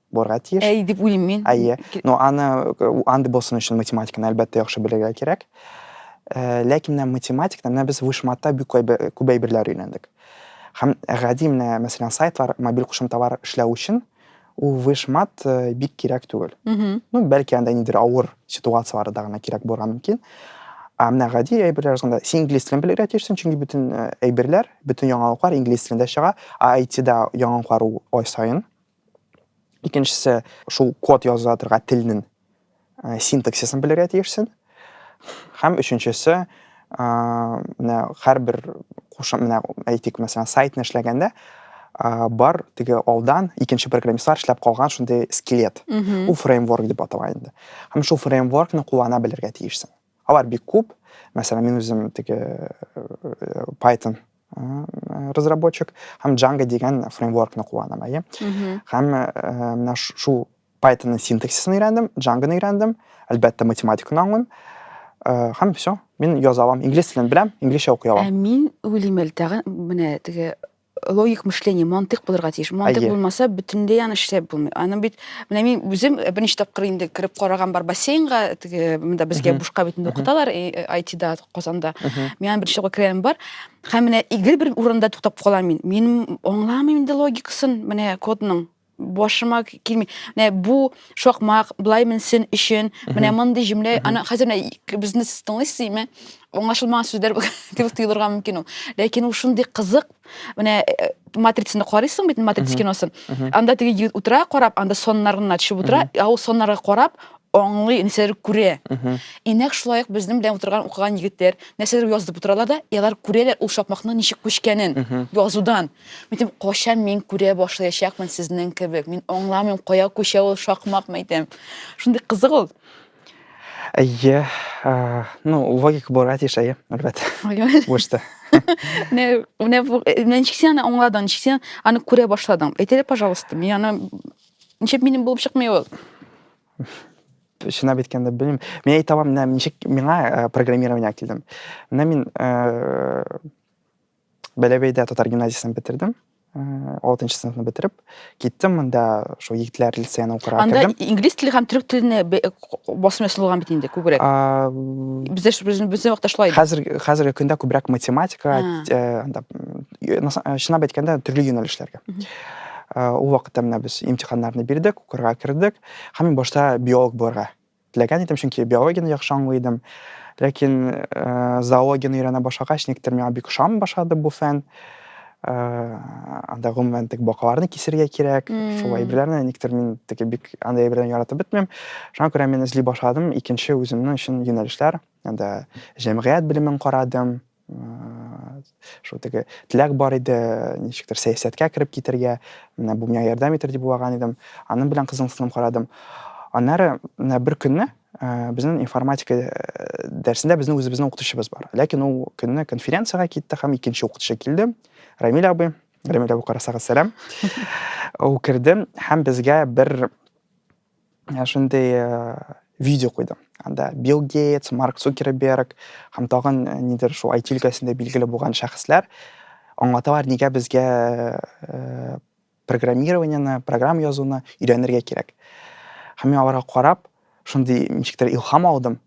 булырга тиеш. Әй дип уйлыйм мин. Әйе. Но аны андый булсын өчен математиканы әлбәттә яхшы белергә кирәк. Э, ләкин менә математикада менә без вышматта бик күп әйберләр өйрәндек. Һәм гади менә, мәсәлән, сайтлар, мобиль кушымталар эшләү өчен ул вышмат э, бик кирәк түгел. Ну, бәлки анда нидер авыр ситуацияләрдә генә кирәк булырга мөмкин. Ә менә гади әйберләр язганда син инглиз телен белергә тиешсең, чөнки бөтен э, әйберләр, бөтен яңалыклар инглиз телендә чыга, а IT-да яңалыклар ай саен Икенчесе шул код яза торган телнең э, синтаксисын белергә тиешсең. Һәм өченчесе э, менә һәрбер кушы менә әйтик, мәсәлән, сайтны эшләгәндә э, бар теге алдан икенче программистлар эшләп калган шундый скелет. Ул фреймворк дип атала инде. Һәм шул фреймворкны куллана белергә тиешсең. Алар бик күп. Мәсәлән, мин үзем теге э, Python э, разработчик һәм Django дигән фреймворкны кулланам, әйе. Һәм э, менә шул Python-ның синтаксисын өйрәндем, Django-ны өйрәндем, әлбәттә математиканы аңлыйм. Э, һәм все мин яза алам инглиз телен беләм инглизчә укый алам ә мин уйлыйм әле тагын менә теге логик мышление, мантык булырга тиеш. Мантык Әйе. булмаса, бөтенләй аны эшләп булмый. Аны бит, менә мин үзем э, берничә тапкыр инде кереп караган бар бассейнга, теге монда безгә Мгм. бушка бит инде Мгм. укыталар э, IT-да, Казанда. Мгм. Мин аны берничә тапкыр керәм бар. Һәм менә игел бер урында туктап калам мин. Мин аңламыйм инде логикасын, менә кодның. башыма килми. Менә бу шакмак былай менсен өчен, менә мондый җөмлә, аны хәзер менә безне сез тыңлыйсыз име? Аңлашылмаган сүзләр дип тоелырга мөмкин ул. Ләкин ул шундый кызык. Менә э, матрицаны карыйсың бит, матрица киносын. Анда теге егет утыра карап, анда соннар гына төшеп утыра, ә ул соннарга карап, аңлый, нәрсәләр күрә. И нәкъ шулай ук безнең белән утырган укыган егетләр нәрсәләр язып утыралар да, и алар күрәләр ул шакмакның ничек күчкәнен язудан. Мәйтем, качан мин күрә башлаячакмын сезнең кебек. Мин аңламыйм, кая күчә ул шакмак, мәйтем. Шундый кызык ул. Әйе, ну, логика бара тиеш, әйе, әлбәттә. Бушта. Не, не, мен чиксен аны аңладың, чиксен аны күрә башладың. Әйтеле, пожалуйста, мин аны ничек минем булып чыкмый ул? Шынап әйткәндә белмим. Мин әйтә алам, менә ничек миңа программирование килдем. Менә мин Бәләбәйдә татар гимназиясен бетердем. 6 нчы сыйныфны бетереп киттем монда шул егетләр лицеена укырга анда кердем. инглиз теле һәм төрек теленә басым ясый булган бит инде күбрәк бездә безнең безнең вакытта шулай хәзер хәзерге көндә күбрәк математика анда чынлап әйткәндә төрле юнәлешләргә ул вакытта менә без имтиханнарны бирдек укырга кердек һәм мин башта биолог булырга Теләгән идем, чөнки биологияне яхшы аңлый идем. Ләкин зоологияне өйрәнә башлагач, никтер миңа бик ошамый башлады бу фән. Анда гомумән тек бакаларны кисергә кирәк, шул әйберләрне никтер мин теге бик анда әйберләрне яратып бетмим. Шуңа күрә мин эзли башладым икенче үземнең өчен юнәлешләр. Анда җәмгыять белемен карадым, шул теге теләк бар иде ничектер сәясәткә кереп китәргә менә бу миңа ярдәм итер дип уйлаган идем аның белән кызыксынып карадым аннары менә бер көнне э, безнең информатика э, дәресендә безнең үзебезнең укытучыбыз бар ләкин ул көнне конференцияга китте һәм икенче укытучы килде рамиль абый рамиль абый карасагыз сәлам ул керде һәм безгә бер ә, шундый ә, видео куйды. Анда Билл Гейтс, Марк Цукерберг һәм тагын ә, нидер шул IT өлкәсендә билгеле булган шәхесләр аңлаталар, нигә безгә ә, программированиены, программа язуны өйрәнергә кирәк. Һәм мин аларга карап, шундый ничектер илһам алдым.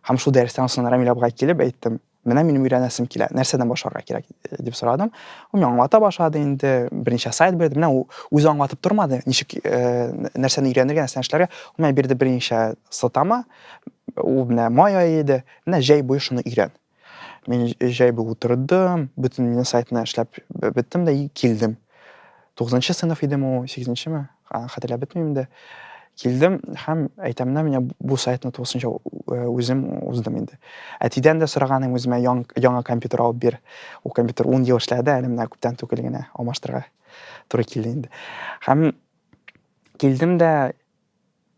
Һәм шул дәрестән соң Рамиль абыга килеп әйттем, Менә минем өйрәнәсем килә, нәрсәдән башларга кирәк дип сорадым. Ул миңа аңлата башлады инде, берничә сайт бирде. Менә ул үзе аңлатып тормады, ничек э, нәрсәне өйрәнергә, нәрсәне эшләргә. Ул миңа бирде берничә сылтама. Ул менә май ае иде. Менә җәй буе шуны өйрән. Мин җәй буе утырдым, бөтен сайтны эшләп беттем дә килдем. Тугызынчы сыйныф идем ул, сигезенчеме? Хәтерләп бетмим инде. Килдем һәм әйтәм дә, менә бу сайтны тулысынча э, үзем уздым инде. Әтидән дә сораганым үземә яңа компьютер алып бир. Ул компьютер 10 ел эшләде, әле менә күптән түгел генә алмаштырырга туры килде инде. Һәм килдем дә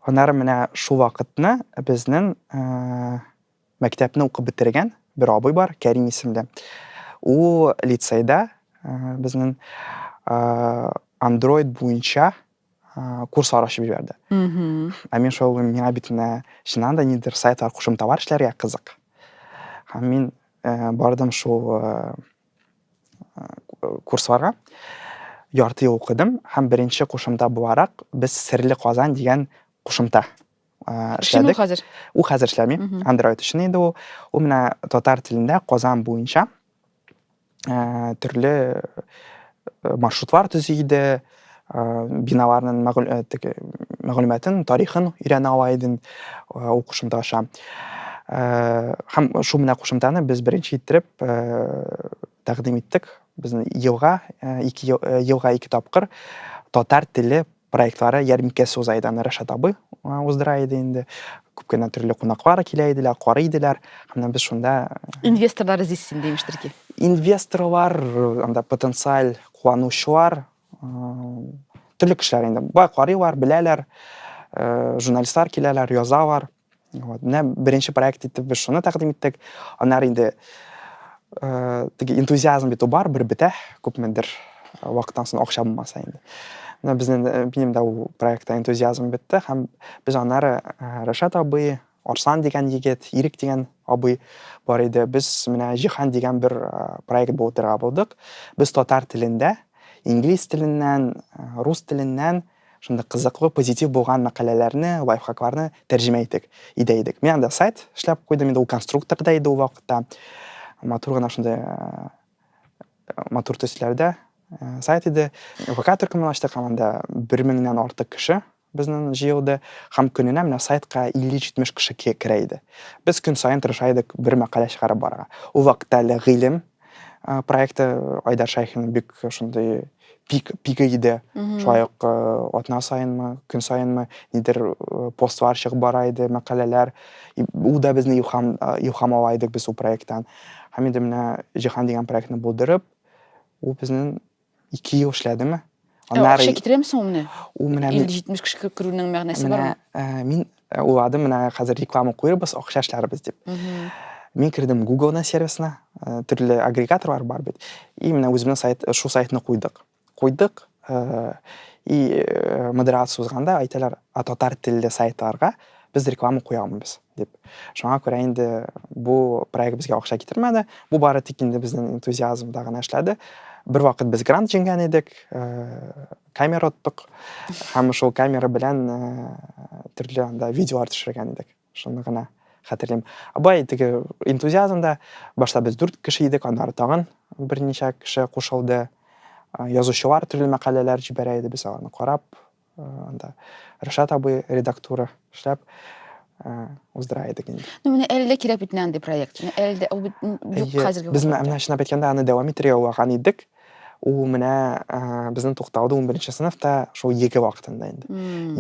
һөнәр менә шул вакытны безнең э, Мәктәпне укып бетергән бер абый бар, Кәрим исемле. Ул лицейда безнең Android буенча курслар ачып җибәрде. Ә мин шул миңа бит менә чыннан да нидер сайтлар кушымталар эшләргә кызык. Һәм мин бардым шул курсларга ярты ел укыдым һәм беренче кушымта буларак без серле казан дигән кушымта Шуны хәзер. Ул хәзер эшләми. Android өчен инде ул. Ул менә татар телендә Казан буенча төрле маршрутлар төзи иде, биналарның мәгълүматын, тарихын өйрәнә ала идем ул кушымта аша. Һәм шул менә кушымтаны без беренче иттереп тәкъдим иттек. Безнең елга, ике елга ике тапкыр татар теле проектлары ярминкәсе уза иде аны рәшат абый уздыра иде инде күп кенә төрле кунаклар килә иделәр карый иделәр һәм без шунда инвесторлар эзлисез инде имештер ки инвесторлар анда потенциаль кулланучылар төрле кешеләр инде бай карыйлар беләләр журналистлар киләләр язалар Вот, менә беренче проект итеп без шуны тәкъдим иттек. Аннары инде э, теге энтузиазм бит бар, бер бетә, күпмедер э, вакыттан соң акча булмаса инде. Менә безнең э, минем дә ул проектта энтузиазм бетте һәм без аннары э, Рәшат абый, Арслан дигән егет, Ирек дигән абый бар иде. Без менә Җиһан дигән бер э, проект булдырга булдык. Без татар телендә, инглиз теленнән, э, рус теленнән Шундый кызыклы, позитив булган мәкаләләрне, лайфхакларны тәрҗемә итик, идә идек. Мин анда сайт эшләп куйдым, инде ул конструктор да иде ул вакытта. Матур гына шундый матур төсләрдә сайт иде. ВК төркемен ачтык, һәм анда бер меңнән артык кеше безнең җыелды, һәм көненә менә сайтка 50-70 кеше керә иде. Без көн саен тырыша идек бер мәкалә чыгарып барырга. Ул вакытта әле гыйлем Э, проекты э, айдар шайхинның бик ошондой пик пигі иде шулай ук э, атна сайынмы күн сайынмы нидер постлар чыгып бара иде мәкаләләр ул да безне илһам илһам ала идек без ул проекттан һәм инде менә җиһан дигән проектны булдырып ул безнең Ике ел эшләдеме? Аннары... Акча китерәме соң менә? Ул менә... 50-70 кеше кереп керүнең мәгънәсе бармы? Э, мин э, уйладым, менә хәзер реклама куербыз, акча эшләрбез дип. Мин кердем Google-на сервисына, э, төрле агрегаторлар бар бит. И менә үзебезнең сайт, шул сайтны куйдык. Куйдык, и модерация узганда әйтәләр, а татар телле сайтларга без реклама куя алмыйбыз. Дип. Шуңа күрә инде бу проект безгә акча китермәде. Бу бары тик инде безнең энтузиазмда гына эшләде. Бер вакыт без грант җиңгән идек, э, камера оттык. Һәм шул камера белән э, төрле анда видеолар төшергән идек. Шуны гына хәтерлим. Абай теге энтузиазмда башта без дүрт кеше идек, аннары тагын берничә кеше кушылды. Э, язучылар төрле мәкаләләр җибәрә иде, без аларны карап, анда Рашат абый редактура эшләп уздыра идек инде. Ну, менә әле дә кирәк бит андый проект. Әле дә ул юк хәзерге. Без менә чынлап әйткәндә аны дәвам иттерергә уйлаган идек. Ул менә безнең тукталды 11 сыйныфта шул ЕГЭ вакытында инде.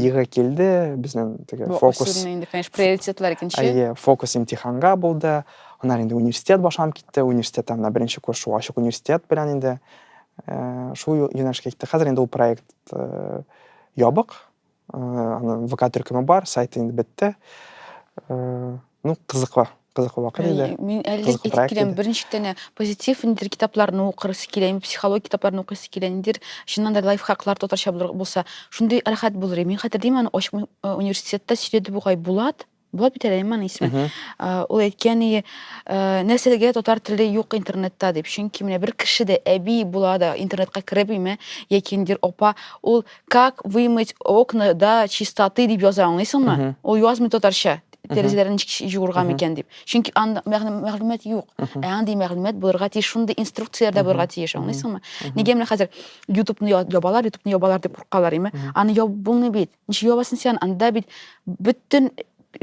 ЕГЭ килде, безнең теге фокус. Инде, конечно, приоритетлар икенче. Әйе, фокус имтиханга булды. Аннан инде университет башланып китте. Университетта менә беренче курс шул ачык университет белән инде шул юнәлешкә китте. Хәзер инде ул проект э, ябык э, аны вк төркеме бар сайты инде бетте э, ну кызыклы кызыклы вакыт иде мин әле әйтеп киләм берничә тәнә позитив ниндидер китапларны укырысы килә инде психология китапларын укыйсы килә ниндидер чыннан да лайфхаклар татарча булса шундый рәхәт булыр мин хәтерлим аны ачык университетта сөйләде бугай булат Була бит әле иман исеме. Ул әйткән иде, нәрсәгә татар теле юк интернетта дип. Чөнки менә бер кеше дә әби була да интернетка кереп име, яки ниндидер апа, ул как вымыть окна да чистоты дип яза, аңлыйсыңмы? Ул язмый татарча. Тәрәзәләрен ничек җуырга микән дип. Чөнки анда мәгълүмат юк. Ә андый мәгълүмат булырга тиеш, шундый инструкцияләр дә булырга тиеш, аңлыйсыңмы? Нигә менә хәзер YouTube-ны ябалар, YouTube-ны ябалар дип куркалар име? Аны ябып булмый бит. Ничек ябасың син анда бит бөтен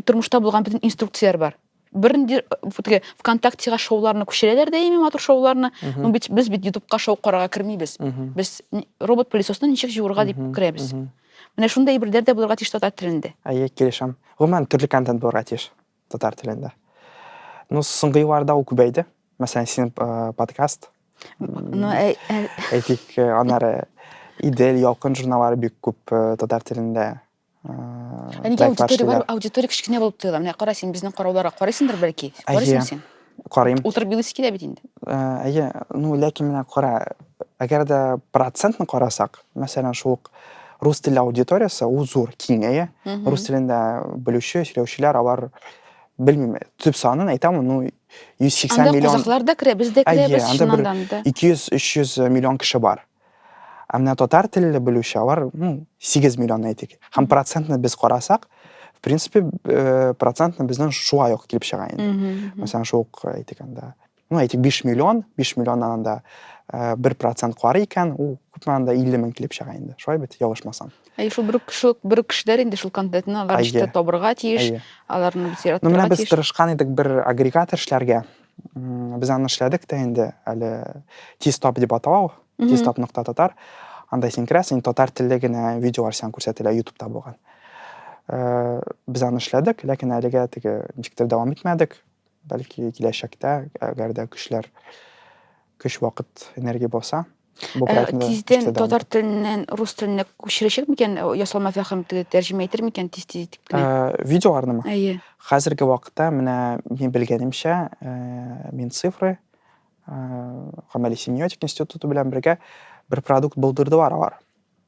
тормышта булган бөтен инструкцияләр бар. Бернинди теге ВКонтактега шоуларны күчерәләр дә ями матур шоуларны. Ну бит без бит ютубка шоу карарга кермибез. Без робот пылесосны ничек җуырга дип керәбез. Менә шундый әйберләр дә булырга тиеш татар телендә. Әйе, килешәм. Гомумән төрле контент булырга тиеш. татар телендә. Ну, соңгы елларда ул күбәйде. Мәсәлән, синең э, подкаст. Ну, э, э, Әйтик, э, аннары Идел, Ялкын журналлары бик күп э, татар телендә. э, ә нигә проектлар аудитория эшлиләр. бар? Аудитория кечкенә булып тоела. Менә кара син безнең карауларга карыйсыңдыр бәлки. Әйе. Карыйсың син? Карыйм. Утырып елыйсы килә бит инде. Ә, әйе, ну, ләкин менә кара, әгәр дә процентны карасак, мәсәлән, шул ук рус телле аудиториясе, ул зур, киң, әйе. Рус телендә белүче, сөйләүчеләр, алар белмим, төп санын әйтәм, ну, 180 миллион. Анда казахлар да керә, без дә керәбез, чыннан да. 200-300 миллион кеше бар. Ә менә татар телле белүче алар, ну, 8 миллион әйтик. Һәм процентны без карасак, в принципе, э, процентны безнең шулай ук килеп чыга инде. Мәсәлән, шул ук әйтик анда. Ну, әйтик 5 миллион, 5 миллионнан анда э, бер процент карый икән, ул күпме анда 50 мең килеп чыга инде. Шулай бит, ялгышмасам. Әй, шул бер кеше, бер кешеләр инде шул контентны алар Әйе. эштә табырга тиеш, Әйе. аларны Ну, бизираттырга менә без тиеш. тырышкан идек бер агрегатор эшләргә. Без аны эшләдек тә инде, әле Тистоп дип атау, Тистоп нокта татар. Анда син керәсең, татар телле генә видеолар сиңа күрсәтелә Ютубта булган. Э, без аны эшләдек, ләкин әлегә теге ничектер дәвам итмәдек. Бәлки киләчәктә, әгәр дә көчләр, көч вакыт, энергия булса, тиздән татар теленнән рус теленә күчерәчәк микән ясалма фәһем тәрҗемә итер микән тиз тиз итеп видеоларнымы әйе хәзерге вакытта менә мин белгәнемчә мин цифры гамәли семиотик институты белән бергә бер продукт булдырдылар алар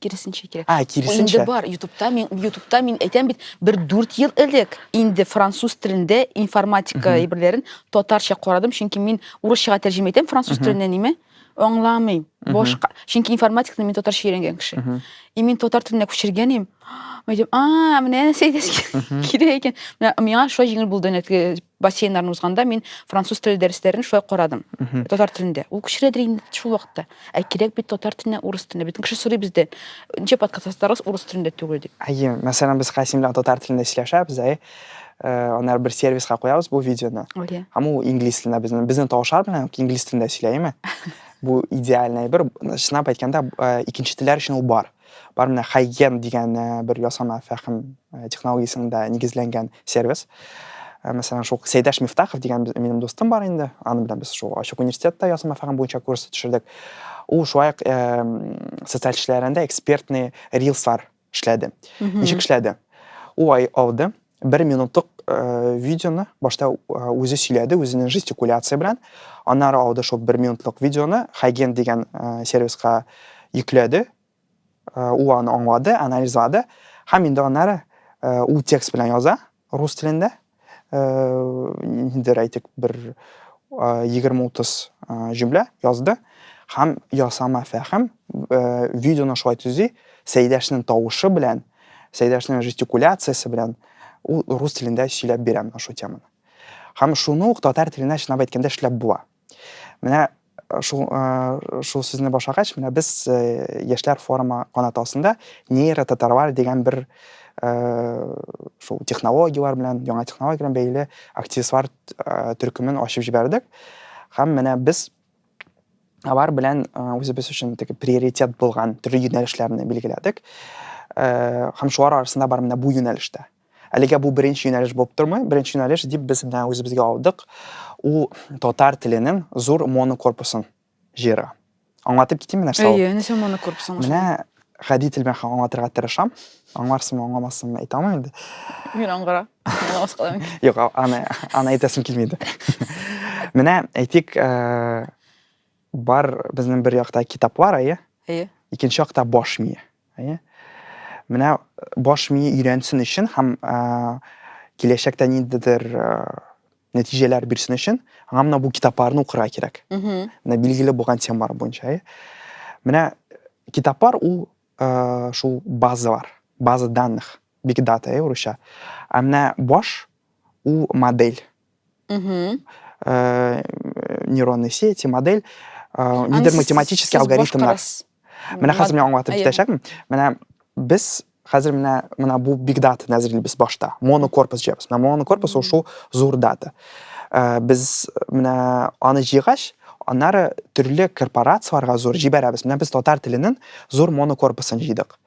киресенчә кирәк. А, киресенчә. Инде бар, ютубта мин, ютубта мин әйтәм бит, бер дүрт ел элек инде француз телендә информатика әйберләрен татарча карадым, чөнки мин урысчага тәрҗемә итәм француз теленнән ниме, аңламыйм. Башка, чөнки информатиканы мин татарча өйрәнгән кеше. И мин татар теленә күчергән идем. Әйтәм, а, менә нәрсә әйтәсең кирәк икән. Менә миңа шулай җиңел булды, нәтиҗә бассейннарны узганда мин француз теле дәресләрен шулай карадым. Татар телендә. Ул күчерәдер инде шул вакытта. Ә кирәк бит татар теленә урыс телендә. Бөтен кеше сорый бездә. Ничә подкаст ясатарыз урыс телендә түгел дип. Әйе, мәсәлән, без Касим белән татар телендә сөйләшәбез, әйе. Э, Аннары бер сервиска куябыз бу видеоны. Әйе. Һәм ул инглиз телендә безнең безнең тавышлар белән инглиз телендә сөйләеме? Бу идеальный бер чынлап әйткәндә э, икенче телләр өчен ул бар. Бар менә Хайген дигән бер ясама фәһем технологиясендә нигезләнгән сервис. Мәсәлән, шул Сәйдәш Мифтахов дигән минем дустым бар инде. Аның белән без шул ачык университетта ясама фәһем буенча курс төшердек. Ул шулай ук социаль эшләрендә экспертный рилслар эшләде. Ничек эшләде? Ул алды бер минутлык э, видеоны башта э, үзе сөйләде үзенең жестикуляция белән аннары алды шул бер минутлык видеоны хайген дигән э, сервиска йөкләде э, ул аны аңлады анализлады һәм инде аннары э, ул текст белән яза рус телендә э, инде әйтик бер э, егерме утыз э, җөмлә язды һәм ясама фәһем э, видеоны шулай төзи сәйдәшнең тавышы белән Сәйдәшнең жестикуляциясе белән ул рус телендә сөйләп бирә менә шул теманы. Һәм шуны ук татар теленә чынлап әйткәндә эшләп була. Менә э, шул, э, шул сүзне башлагач, менә без э, яшьләр форумы канаты астында нейротатарлар дигән бер шул технологияләр белән, яңа технология белән бәйле активистлар төркемен ачып җибәрдек. Һәм менә без Алар белән үзебез өчен теге приоритет булган төрле юнәлешләрне билгеләдек. Һәм шулар арасында бар менә бу юнәлештә. Әлегә бу беренче юнәлеш булып тормый. Беренче юнәлеш дип без менә үзебезгә алдык, ул татар теленең зур монокорпусын җыерга. Аңлатып китимме нәрсә ул? Әйе, нәрсә монокорпус аңлашылмый. Менә гади тел белән аңлатырга тырышам. Аңларсыңмы, аңламассыңмы әйтә алмыйм инде. Мин аңгыра. Аңламас калам. Юк, аны аны әйтәсем килми иде. Менә әйтик, э, бар безнең бер якта китаплар, әйе? Әйе. Икенче якта баш мие, әйе? Менә э, баш мие өйрәнсен өчен һәм э, киләчәктә ниндидер э, нәтиҗәләр бирсен өчен аңа менә бу китапларны укырга кирәк менә билгеле булган темалар буенча э. менә китаплар ул э, шул базалар база данных биг дата э, урысча а менә баш ул модель э, нейронные сети модель нидер математический алгоритмнар менә хәзер мин аңлатып китәчәкмен менә без Хәзер менә менә бу big data нәзерли без башта. Монокорпус җыябыз. Менә монокорпус ул шул зур дата. Э, без менә аны җыйгач, аннары төрле корпорацияләргә зур җибәрәбез. Менә без татар теленең зур монокорпусын җыйдык.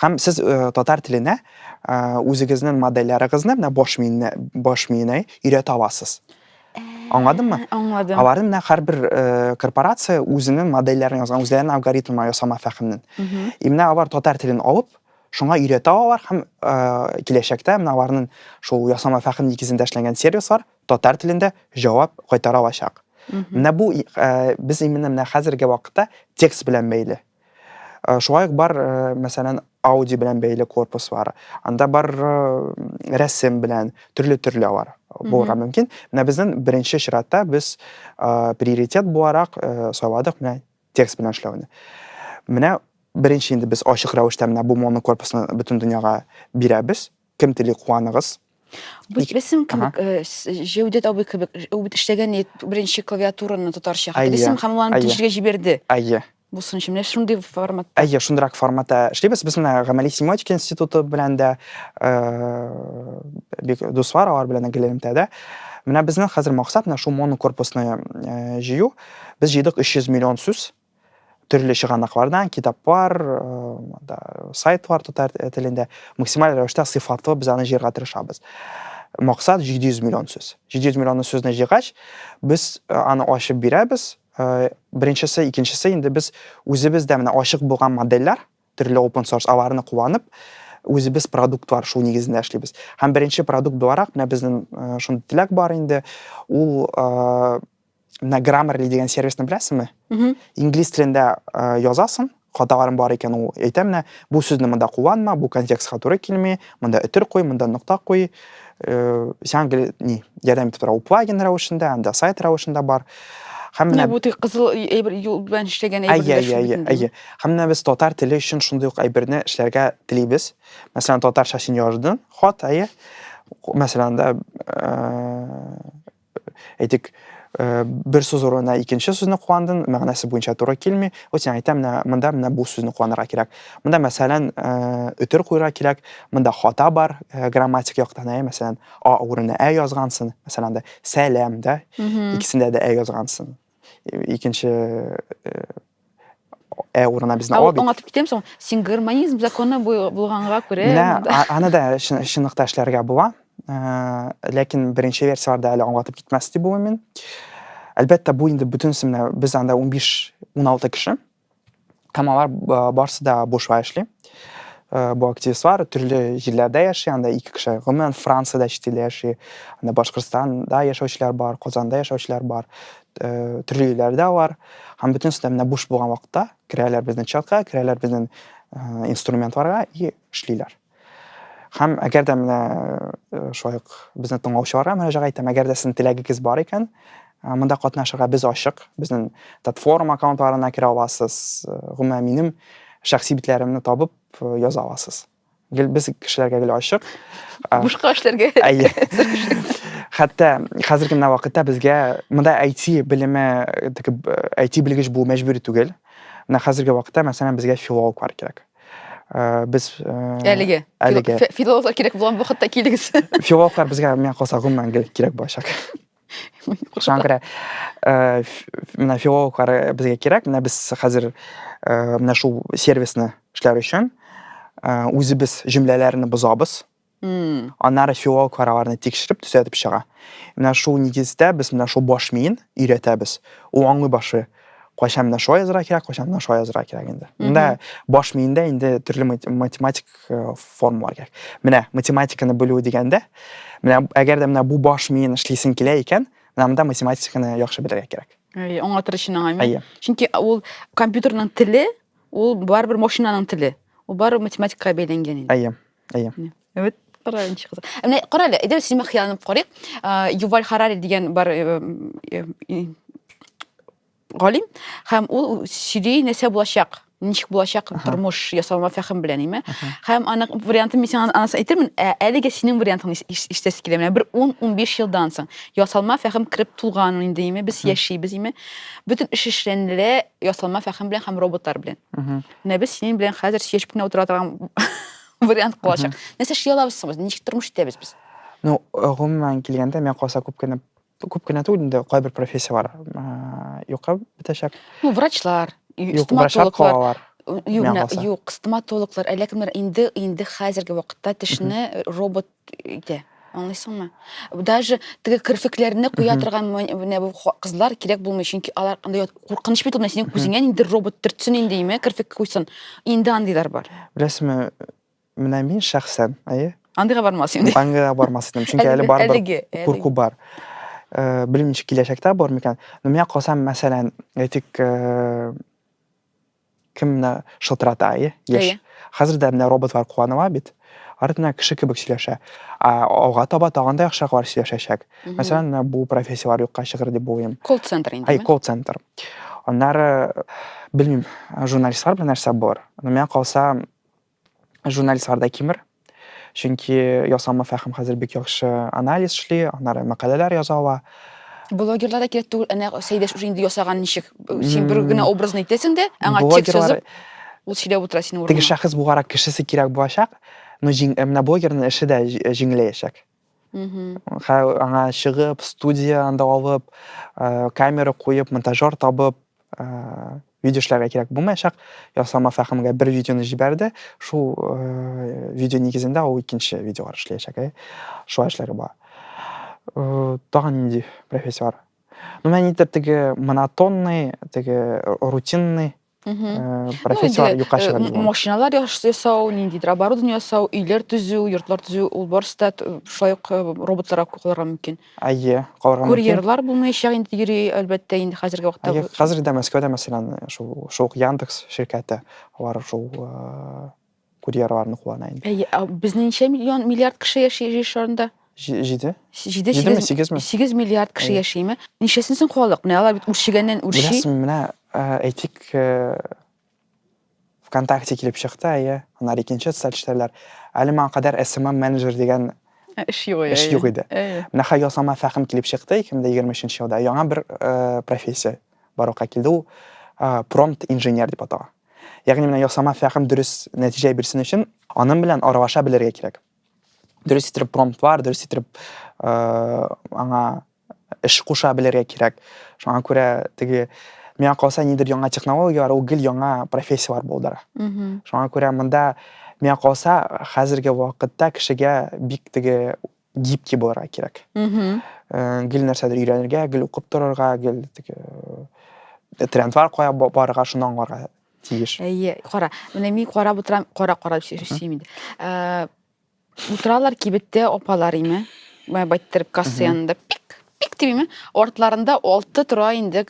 Һәм сез э, татар теленә э, үзегезнең модельләрегезне менә баш миенә баш миенә өйрәтә аласыз. Аңладыңмы? Аңладым. Алары менә һәрбер э, корпорация үзенең модельләрен язган, үзләренең алгоритмы ясама фәхемнен. И менә алар татар телен алып, шуңа өйрәтә алар һәм э, киләчәктә менә аларның шул ясама фәхем нигезендә эшләнгән сервислар татар телендә җавап кайтара алачак. Менә бу э, без именно менә хәзерге вакытта текст белән бәйле. Э, шулай ук бар э, мәсәлән ауди белән бәйле корпус бар анда бар э, рәсем белән төрле төрле алар булырга мөмкин менә безнең беренче чиратта без приоритет буларак сайладык менә текст белән эшләүне менә беренче инде без ачык рәвештә менә бу монокорпусны бөтен дөньяга бирәбез Кем тели куаныгыз? Бит бесем кебек, э, Җәүдәт абый кебек, ул бит эшләгән ит, беренче клавиатураны тотарча. Хәтта бесем һәм ул аны тишергә җибәрде. Әйе. Бу сынчы менә шундый форматта. Әйе, шундырак форматта эшлибез. Без менә гамәли семиотика институты белән дә э, бик дуслар, алар белән дә гелемтәдә. Менә безнең хәзер максат менә шул монокорпусны э, җыю. Без җыйдык 300 миллион сүз. төрле чыганаклардан китаплар да сайтлар татар телендә максималь рәвештә сыйфатлы без аны җыярга тырышабыз максат 700 миллион сүз 700 миллион сүзне җыйгач без аны ачып бирәбез беренчесе икенчесе инде без үзебез дә менә ачык булган модельләр төрле open source аларны кулланып үзебез продуктлар шул нигезендә эшлибез һәм беренче продукт буларак менә безнең шундый теләк бар инде ул менә граммерли дигән сервисны беләсеңме инглиз телендә язасың хаталарың бар икән ул әйтә менә бу сүзне монда кулланма бу контекстка туры килми монда өтер куй монда нокта куй сиңа ни ярдәм итеп тора ул плагин рәвешендә анда сайт рәвешендә бар һәм менә бу кызыл әйбер юл белән эшләгән әйбер әйе һәм менә без татар теле өчен шундый ук әйберне эшләргә телибез мәсәлән татарча син яздың хат әйе мәсәлән да әйтик, э, бер сүз урынына икенче сүзне кулландың, мәгънәсе буенча туры килми. Вот сиңа әйтәм, менә монда менә бу сүзне кулланырга кирәк. Монда мәсәлән, э, өтер куярга кирәк. Монда хата бар, э, грамматик яктан, ә мәсәлән, а урынына ә язгансың, мәсәлән, да сәлам, да. Икесендә дә ә язгансың. икенче ә урынына безне алып аңлатып китәм соң син гармонизм законы булганга күрә менә аны да чынлыкта эшләргә була ләкин беренче версияләрдә әле аңлатып китмәс дип уйлыйм мин әлбәттә бу инде бөтенесе менә без анда унбиш уналты кеше Һәм алар барсы да бушла эшли. Э, бу активистлар төрле җирләрдә яши анда ике кеше гомумән франциядә чит илдә яши анда башкортстанда яшәүчеләр бар казанда яшәүчеләр бар э, төрле илләрдә алар һәм бөтенесе дә менә буш булган вакытта керәләр безнең чатка керәләр безнең э, инструментларга и эшлиләр Һәм әгәр дә менә э, шулай ук безне тыңлаучыларга мөрәҗәгать итәм, әгәр дә сезнең теләгегез бар икән, э, монда катнашырга без ачык. Безнең платформа аккаунтларына керә аласыз, э, гомумән минем шәхси битләремне табып яза аласыз. Гел без кешеләргә гел ачык. Бушка эшләргә. Әйе. Хәтта хәзерге менә вакытта безгә монда IT белеме, IT белгеч булу мәҗбүри түгел. Менә хәзерге вакытта мәсәлән безгә филологлар кирәк. Э, без э, әлеге әлеге филологлар кирәк булган вакытта килегез филологлар безгә миңа калса гомумәнгел кирәк булачак шуңа күрә э, менә филологлар безгә кирәк менә без хәзер менә шул сервисны эшләр өчен үзебез җөмләләрне бозабыз Аннары филолог араларны тикшереп, төзәтеп чыга. Менә шул нигездә без менә шул баш миен өйрәтәбез. Ул аңлый башлый, кайчан менә шулай язырга кирәк, кайчан менә шулай язырга кирәк инде. Монда баш миендә инде төрле математик э, формалар кирәк. Менә математиканы белү дигәндә, менә әгәр дә менә бу баш миен эшлисең килә икән, менә монда математиканы яхшы белергә кирәк. Әйе, аңлатыр өчен аңа мин. Чөнки ул компьютерның теле, ул барыбер машинаның теле. Ул барыбер математикага бәйләнгән инде. Әйе. Әйе. Үт карар ничек кызык. Ә Менә кара әле, әйдәгез син хыялланып карыйк. А, Юваль Харари дигән бар э, э, э, галим һәм ул сөйли нәрсә булачак, ничек булачак Аха. тормыш ясалма фәһем белән, име? Аха. Һәм аның вариантын мин сиңа анасы әйтермен, ә әлегә синең вариантыңны ис- ис- ишетәсе килә. Менә бер 10-15 елдан соң ясалма фәһем кереп тулган инде, име? Без яшибез, име? Бөтен эш эшләнелә ясалма фәһем белән һәм роботлар белән. Мгм. Менә без синең белән хәзер сөйләшеп кенә утыра торган вариант калачак. Нәрсә эшли алабыз соң без? Ничек тормыш итәбез без? Ну, гомумән килгәндә, миңа калса күп кенә күп кенә түгел инде кайбер профессияләр юкка бетәчәк. Ну, врачлар, стоматологлар. Юк, юк, стоматологлар, әллә кемнәр инде инде хәзерге вакытта тешне робот Итә. Аңлыйсыңмы? Даже теге керфекләрне куя Мгм. торган мон- менә бу ха- кызлар кирәк булмый, чөнки алар андай ят- куркыныч бит ул менә синең күзеңә инде робот төртсен инде, име, керфек куйсын. Инде андыйлар бар. Беләсеңме, менә мин шәхсән, әйе, Андыйга бармас инде. аңгыга бармас идем, чөнки әле барыбер әлеге, әлеге. курку бар. Э, Белмим, ничек киләчәктә бар микән. Но миңа калса, мәсәлән, әйтик, э, кем менә шылтырата иә еш қазір де мына роботлар қуаныла бит артына кіші кебек сөйләшә а алга таба тагын да яхшыраклар сөйләшәчәк мәсәлән менә бу профессияләр юкка чыгыр дип уйлыйм колл центр инде әй колл центр аннары белмим журналистлар белән нәрсә булыр но миңа калса журналист Арда Кимер. Чөнки ясалма фәһем хәзер бик яхшы анализ эшли, аннары мәкаләләр яза ала. Блогерлар да кирәк түгел, әнә Сәйдәш уже инде ясаган ничек. Син бер генә образны әйтәсең дә, аңа текст язып, ул сөйләп утыра синең урыныңа. Теге шәхес булгарак кешесе кирәк булачак, но менә блогерның эше дә җиңеләячәк. аңа чыгып студия анда алып э, камера куеп монтажер табып э, видео эшләргә кирәк булмаячак ясама фәхемгә бер видеоны җибәрде шул э, видео нигезендә ул икенче видеолар эшләячәк ә шулай эшләргә була тагын нинди профессия бар ну мән итеп теге монотонный теге рутинный профессиялар юкка чыга машиналар ясау ниндидер оборудование ясау өйләр төзү йортлар төзү ул барысы да шулай ук роботларга калырга мөмкин әйе калырга мөмкин курьерлар булмаячак инде йөри әлбәттә инде хәзерге вакытта әйе хәзер дә мәскәүдә мәсәлән шул шул яндекс ширкәте бар шул Курьерларны куана инде. Әйе, ә безнең ничә миллион миллиард кеше яши җир шарында? Җи- Җиде? Җиде, Җидеме, сигез- сигезме? Сигез миллиард кеше Әйе. яшиме? Ничәсен соң халык? Менә алар бит үрчегәннән үрчи. Беләсең, менә э, әйтик, э, ВКонтакте килеп чыкты, әйе, аннары икенче социаль челтәрләр. Әле моңа кадәр SMM менеджер дигән Ә, Эш юк. Эш юк иде. Әйе. Менә хәзер ясалма фәһем килеп чыкты 2023 елда. Яңа бер э, профессия барлыкка килде, ул промпт инженер дип атала. Ягъни менә ясама фәһем дөрес нәтиҗә бирсен өчен, аның белән аралаша белергә кирәк. Дөрес итеп промптлар, дөрес итеп аңа эш куша белергә кирәк. Шуңа күрә теге миңа калса нидер яңа технологияләр ул гел яңа профессияләр булдыра. Шуңа күрә монда миңа калса хәзерге вакытта кешегә бик теге гибкий булырга кирәк э, гел нәрсәдер өйрәнергә гел укып торырга гел теге э, трендлар кая барырга шуны аңларга тиеш әйе кара менә мин карап утырам кара кара сөймим инде э, утыралар кибеттә апалар име байттерып касса янында пик пик дибиме артларында алты тора инде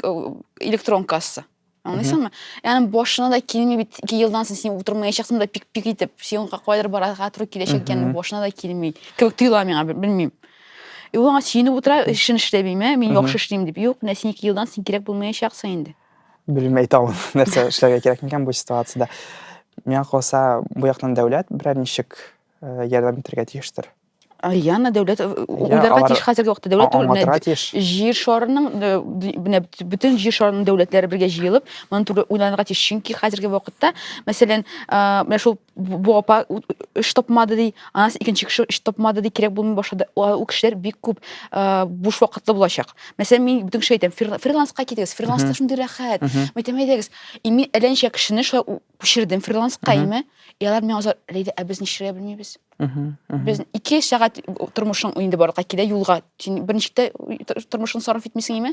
электрон касса Аңлыйсың ма? Ягъни башына да килми бит, ике елдан соң син утырмаячаксың да пик-пик итеп, син кайдыр барырга туры киләчәк икәнен башына да килми. Кебек тоела миңа, белмим. И ул аңа сөенеп утыра, эшен эшләмиме, мин яхшы эшлим дип. Юк, менә син ике елдан син кирәк булмаячаксың инде. Белмим, әйтә алмыйм, нәрсә эшләргә кирәк микән бу ситуациядә. Миңа калса, бу яктан дәүләт берәр ничек ярдәм итәргә тиештер. Иә, мына дәүләт э, уйларга алар- тиеш хәзерге вакытта дәүләт түгел, Аңлатырга менә тиеш. җир шарының э, ди- менә бөт- бөтен җир шарының дәүләтләре бергә җыелып, моны туры уйланырга тиеш. Чөнки хәзерге вакытта, мәсәлән, а, менә шул бу бу апа у- эш тапмады ди, анасы икенче кеше эш тапмады ди, кирәк булмый башлады. Ул ул кешеләр бик күп а, буш вакытлы булачак. Мәсәлән, мин бөтен кеше әйтәм, фрила- фриланска китегез, фриланста шундый рәхәт. Мәйтәм, әйдәгез, и мин әллә ничә кешене шулай у- күчердем фриланска инде и алар миңа озак рәйдә ә без нишләргә белмибез без ике сәгать тормышың инде барлыкка килә юлга син берничек тә тормышыңны сарыф итмисең име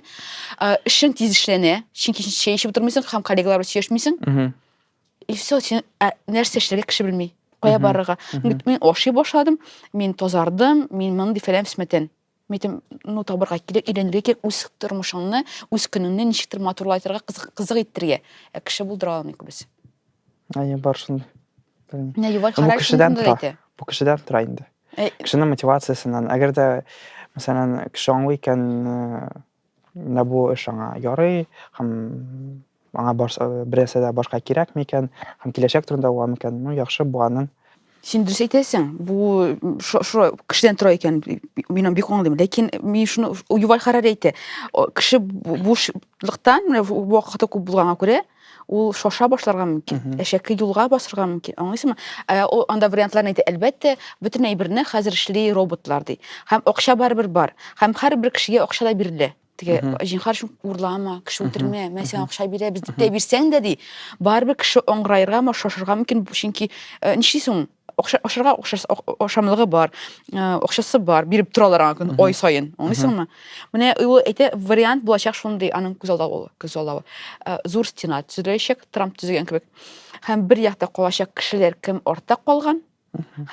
эшең тиз эшләнә чөнки син чәй эчеп утырмыйсың һәм коллегалар белән сөйләшмисең и все син нәрсә эшләргә кеше белми кая барырга мин ашый башладым мин тазардым мин мондый фәлән фесмәтән Митем, ну табырга кирәк, өйрәнергә кирәк үз тормышыңны, үз көнеңне ничектер матурлайтырга, кызык, кызык иттергә. Ә кеше булдыра алмый күбесе. Әйе, бар шундый. Белмим. Менә Юваль Ну, бу Харарис кешедән шундый тора. әйтә. Бу кешедән тора инде. Э, Кешенең мотивациясеннән. Әгәр дә, мәсәлән, кеше аңлый икән, э, Менә бу эш аңа ярый һәм аңа барса, берәрсе дә башка кирәкми икән һәм киләчәк турында уйлау микән? Ну, яхшы, бу аның. Син дөрес әйтәсең, бу шулай кешедән тора икән, мин аны бик аңлыйм. Ләкин мин шуны Юваль Харари әйтә, кеше бушлыктан, менә вакыты күп булганга күрә, ул шаша башларга мөмкин әшәке юлга басырга мөмкин аңлыйсыңмы э, ул анда вариантларын әйтә әлбәттә бөтен әйберне хәзер эшли роботлар ди һәм акча барыбер бар һәм һәрбер кешегә акча да бирелә теге җинхар шул урлама кеше үтермә мен сиңа акча бирәбез дип тә бирсәң дә ди барыбер кеше аңгыраерга ма шашырга мөмкин чөнки э, ничисең Охша, охшарга охшас, охшамлыгы бар, охшасы бар, биреп торалар аңа көн, ой сайын, аңлыйсыңмы? Менә ул әйтә, вариант булачак шундый аның күз алда ул, күз алда. Зур стена төзеләчәк, Трамп төзегән кебек. Һәм бер якта калачак кешеләр кем артта калган,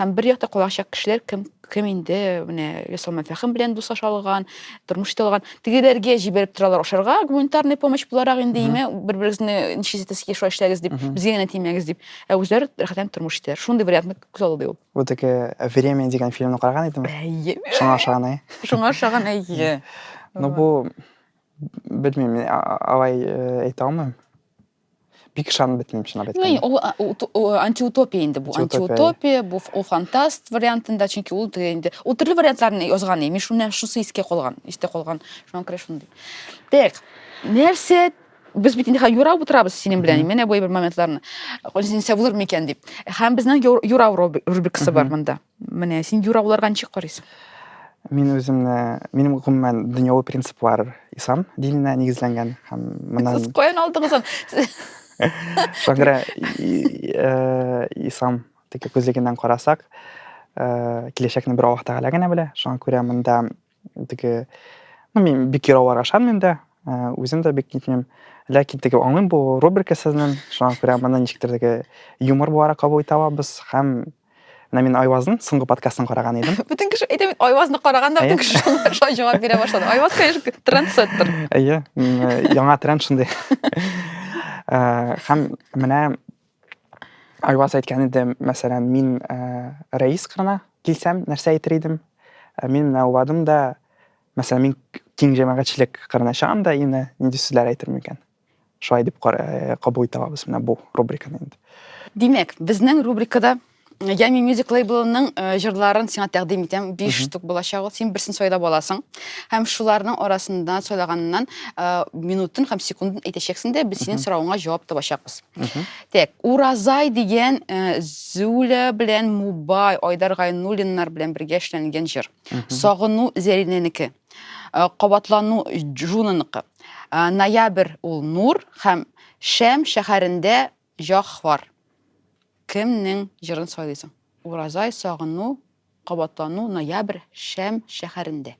һәм бер якта калачак кешеләр кем Кем инде менә Ясал Мәфәхим белән дуслаша алган, тормыш итә алган. Тегеләргә җибәреп торалар ашарга, гуманитарный помощь буларак инде име, бер-берегезне ничек итәсез, шулай эшләгез дип, безгә генә тимәгез дип. Ә үзләре рәхәтләнеп тормыш итәләр. Шундый вариантны күз алдыда ул. Бу теге Время дигән фильмны караган идеме? Әйе. Шуңа ошаган, әйе. Шуңа ошаган, әйе. Ну бу белмим, алай әйтә алмыйм. бик ышанып бетмим чынлап әйткәндә ул антиутопия инде бу антиутопия бу ул фантаст вариантында чөнки ул инде ул төрле вариантларны язган мин шуннан шусы искә калган истә калган шуңа күрә шундый так нәрсә без бит инде юрап утырабыз синең белән менә бу бер моментларны син сәвлыр микән дип һәм безнең юрау рубрикасы бар монда Менә син юра буларга ничек карыйсың? Мин үземне, минем гомумән дөньяви принциплар ислам диненә нигезләнгән һәм моннан Сез каян алдыгыз аны? Шуңа э, ислам теге күзлегеннән карасак, э, киләчәкне бер Аллаһ Тәгалә генә белә. Шуңа күрә монда Теге, ну, мин бик яраулар ашам инде, э, үзем дә бик нитмим. Ләкин теге аңлыйм бу рубрика сезнең, шуңа күрә моны ничектер теге юмор буларак кабул итә алабыз һәм менә мин Айвазның соңгы подкастын караган идем. Бүтән кеше әйтә бит, Айвазны караганда бүтән кеше шулай җавап бирә башлады. Айваз, конечно, трендсеттер. Әйе, яңа тренд шундый. Э, һәм менә Айваз әйткән иде, мәсәлән, мин рәис кырына килсәм, нәрсә әйтер идем? Мин менә уйладым да, мәсәлән, мин киң җәмәгатьчелек кырына чыгам да, инде нинди сүзләр әйтермен икән? Шулай дип кабул итә алабыз менә бу рубриканы инде. Димәк, безнең рубрикада Ями Music лейблының э, җырларын сиңа тәкъдим итәм. 5 штук булачак ул. Син берсен сайлап аласың. Һәм шуларның арасында сайлаганнан э, минутын һәм секундын әйтәчәксең дә, без синең соравыңа җавап табачакбыз. Так, Уразай дигән э, Зуля белән Мубай, Айдар Гайнуллиннар белән бергә эшләнгән җыр. Сагыну Зәринәнеке. Э, Кабатлану Джунаныкы. Э, Ноябрь ул Нур һәм Шәм шәһәрендә Җаһвар. Кемнең җырын сайлыйсың? Уразай, Сагыну, Кабатлану, Ноябрь, Шәм шәһәрендә.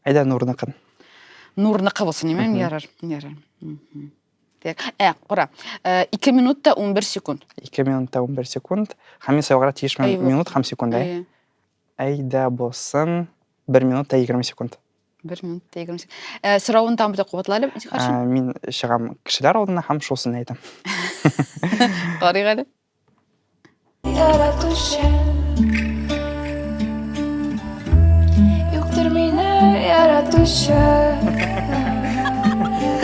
Әйдә Нурныкын. Нурныкы булсын, имәм ярар. Ярар. Так. Ә, кара. 2 минут та 11 секунд. 2 минут та 11 секунд. Һәм мин сайларга тиеш минут һәм секунд, әйе? Әйдә булсын. 1 минут та 20 секунд. бир минутта егерме сегиз э, сорауын тагын бир кабатла әле ә, мин чыгам кешеләр алдына һәм шусын әйтәм карыйк әле яратучы юктыр мине яратучы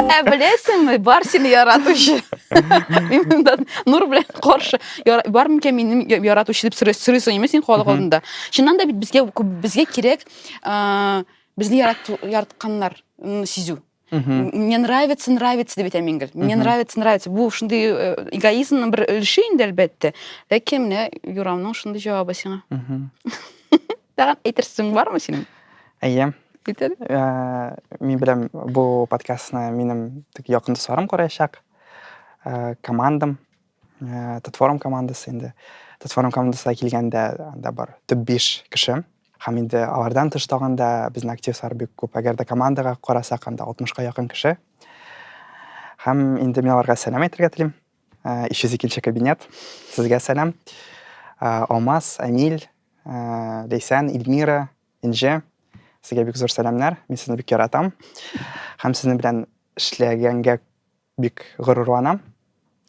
ә беләсеңме бар сине яратучы нур белән каршы бар микән минем яратучы дип сорыйсың ме син халык алдында чыннан да бит безгә безгә кирәк ә, безне ярат, яратканнар сизү мне нравится нравится деп әйтәм ингел мне нравится нравится бу шундый э, эгоизмның бер өлеше инде әлбәттә ләкин менә юрамның шундый җавабы сиңа тагын әйтерсең бармы синең әйе бит әле э, мин беләм бу подкастны минем тик якын дусларым күрәчәк э, командам Ә, татфорум командасы инде. Татфорум командасына килгәндә анда бар төп биш кеше. Һәм инде алардан тыш тагын да безнең активлар бик күп. Әгәр дә командага карасак, анда 60-ка якын кеше. Һәм инде мин аларга сәлам әйтергә телим. 302 э, кабинет. Сезгә сәлам. Э, Алмаз, Әмил, э, Лейсән, Ильмира, Инже. Сезгә бик зур сәламнәр. Мин сезне бик яратам. Һәм сезнең белән эшләгәнгә Бик горурланам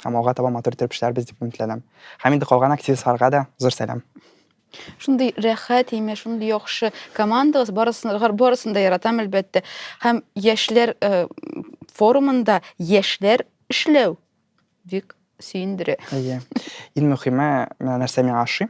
һәм алга таба матур иттереп эшләрбез дип өметләнәм. Һәм инде калган активистларга да зур сәлам. Шундый рәхәт име, шундый яхшы командагыз, барысын, барысын да яратам, әлбәттә. Һәм яшьләр э, форумында яшьләр эшләү бик сөендерә. Әйе. Иң мөһиме, менә нәрсә миңа ошый.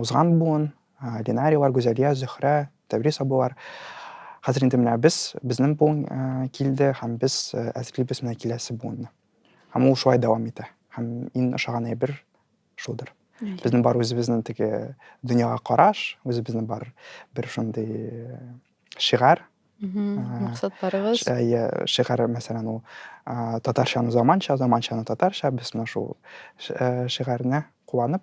Узган буын, Ленарийлар, Гүзәлия, Зөһрә, Тәврис абыйлар. Хәзер инде менә без, безнең буын килде һәм без әзерлибез менә киләсе буынны. Һәм ул шулай дәвам итә. Һәм иң ошаган әйбер шулдыр. Безнең бар үзебезнең теге дөньяга караш, үзебезнең бар бер шундый шигарь, максатларыбыз иә шигарь мәсәлән ул татарчаны заманча заманчаны татарча без менә шул шигарьне куанып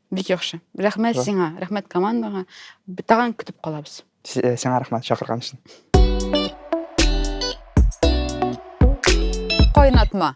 Бик яхшы. Рәхмәт Шо. сиңа, рәхмәт командаңа. Б- Тагын көтеп калабыз. Си- э, Сиңа рәхмәт чакырган өчен. Кайнатма.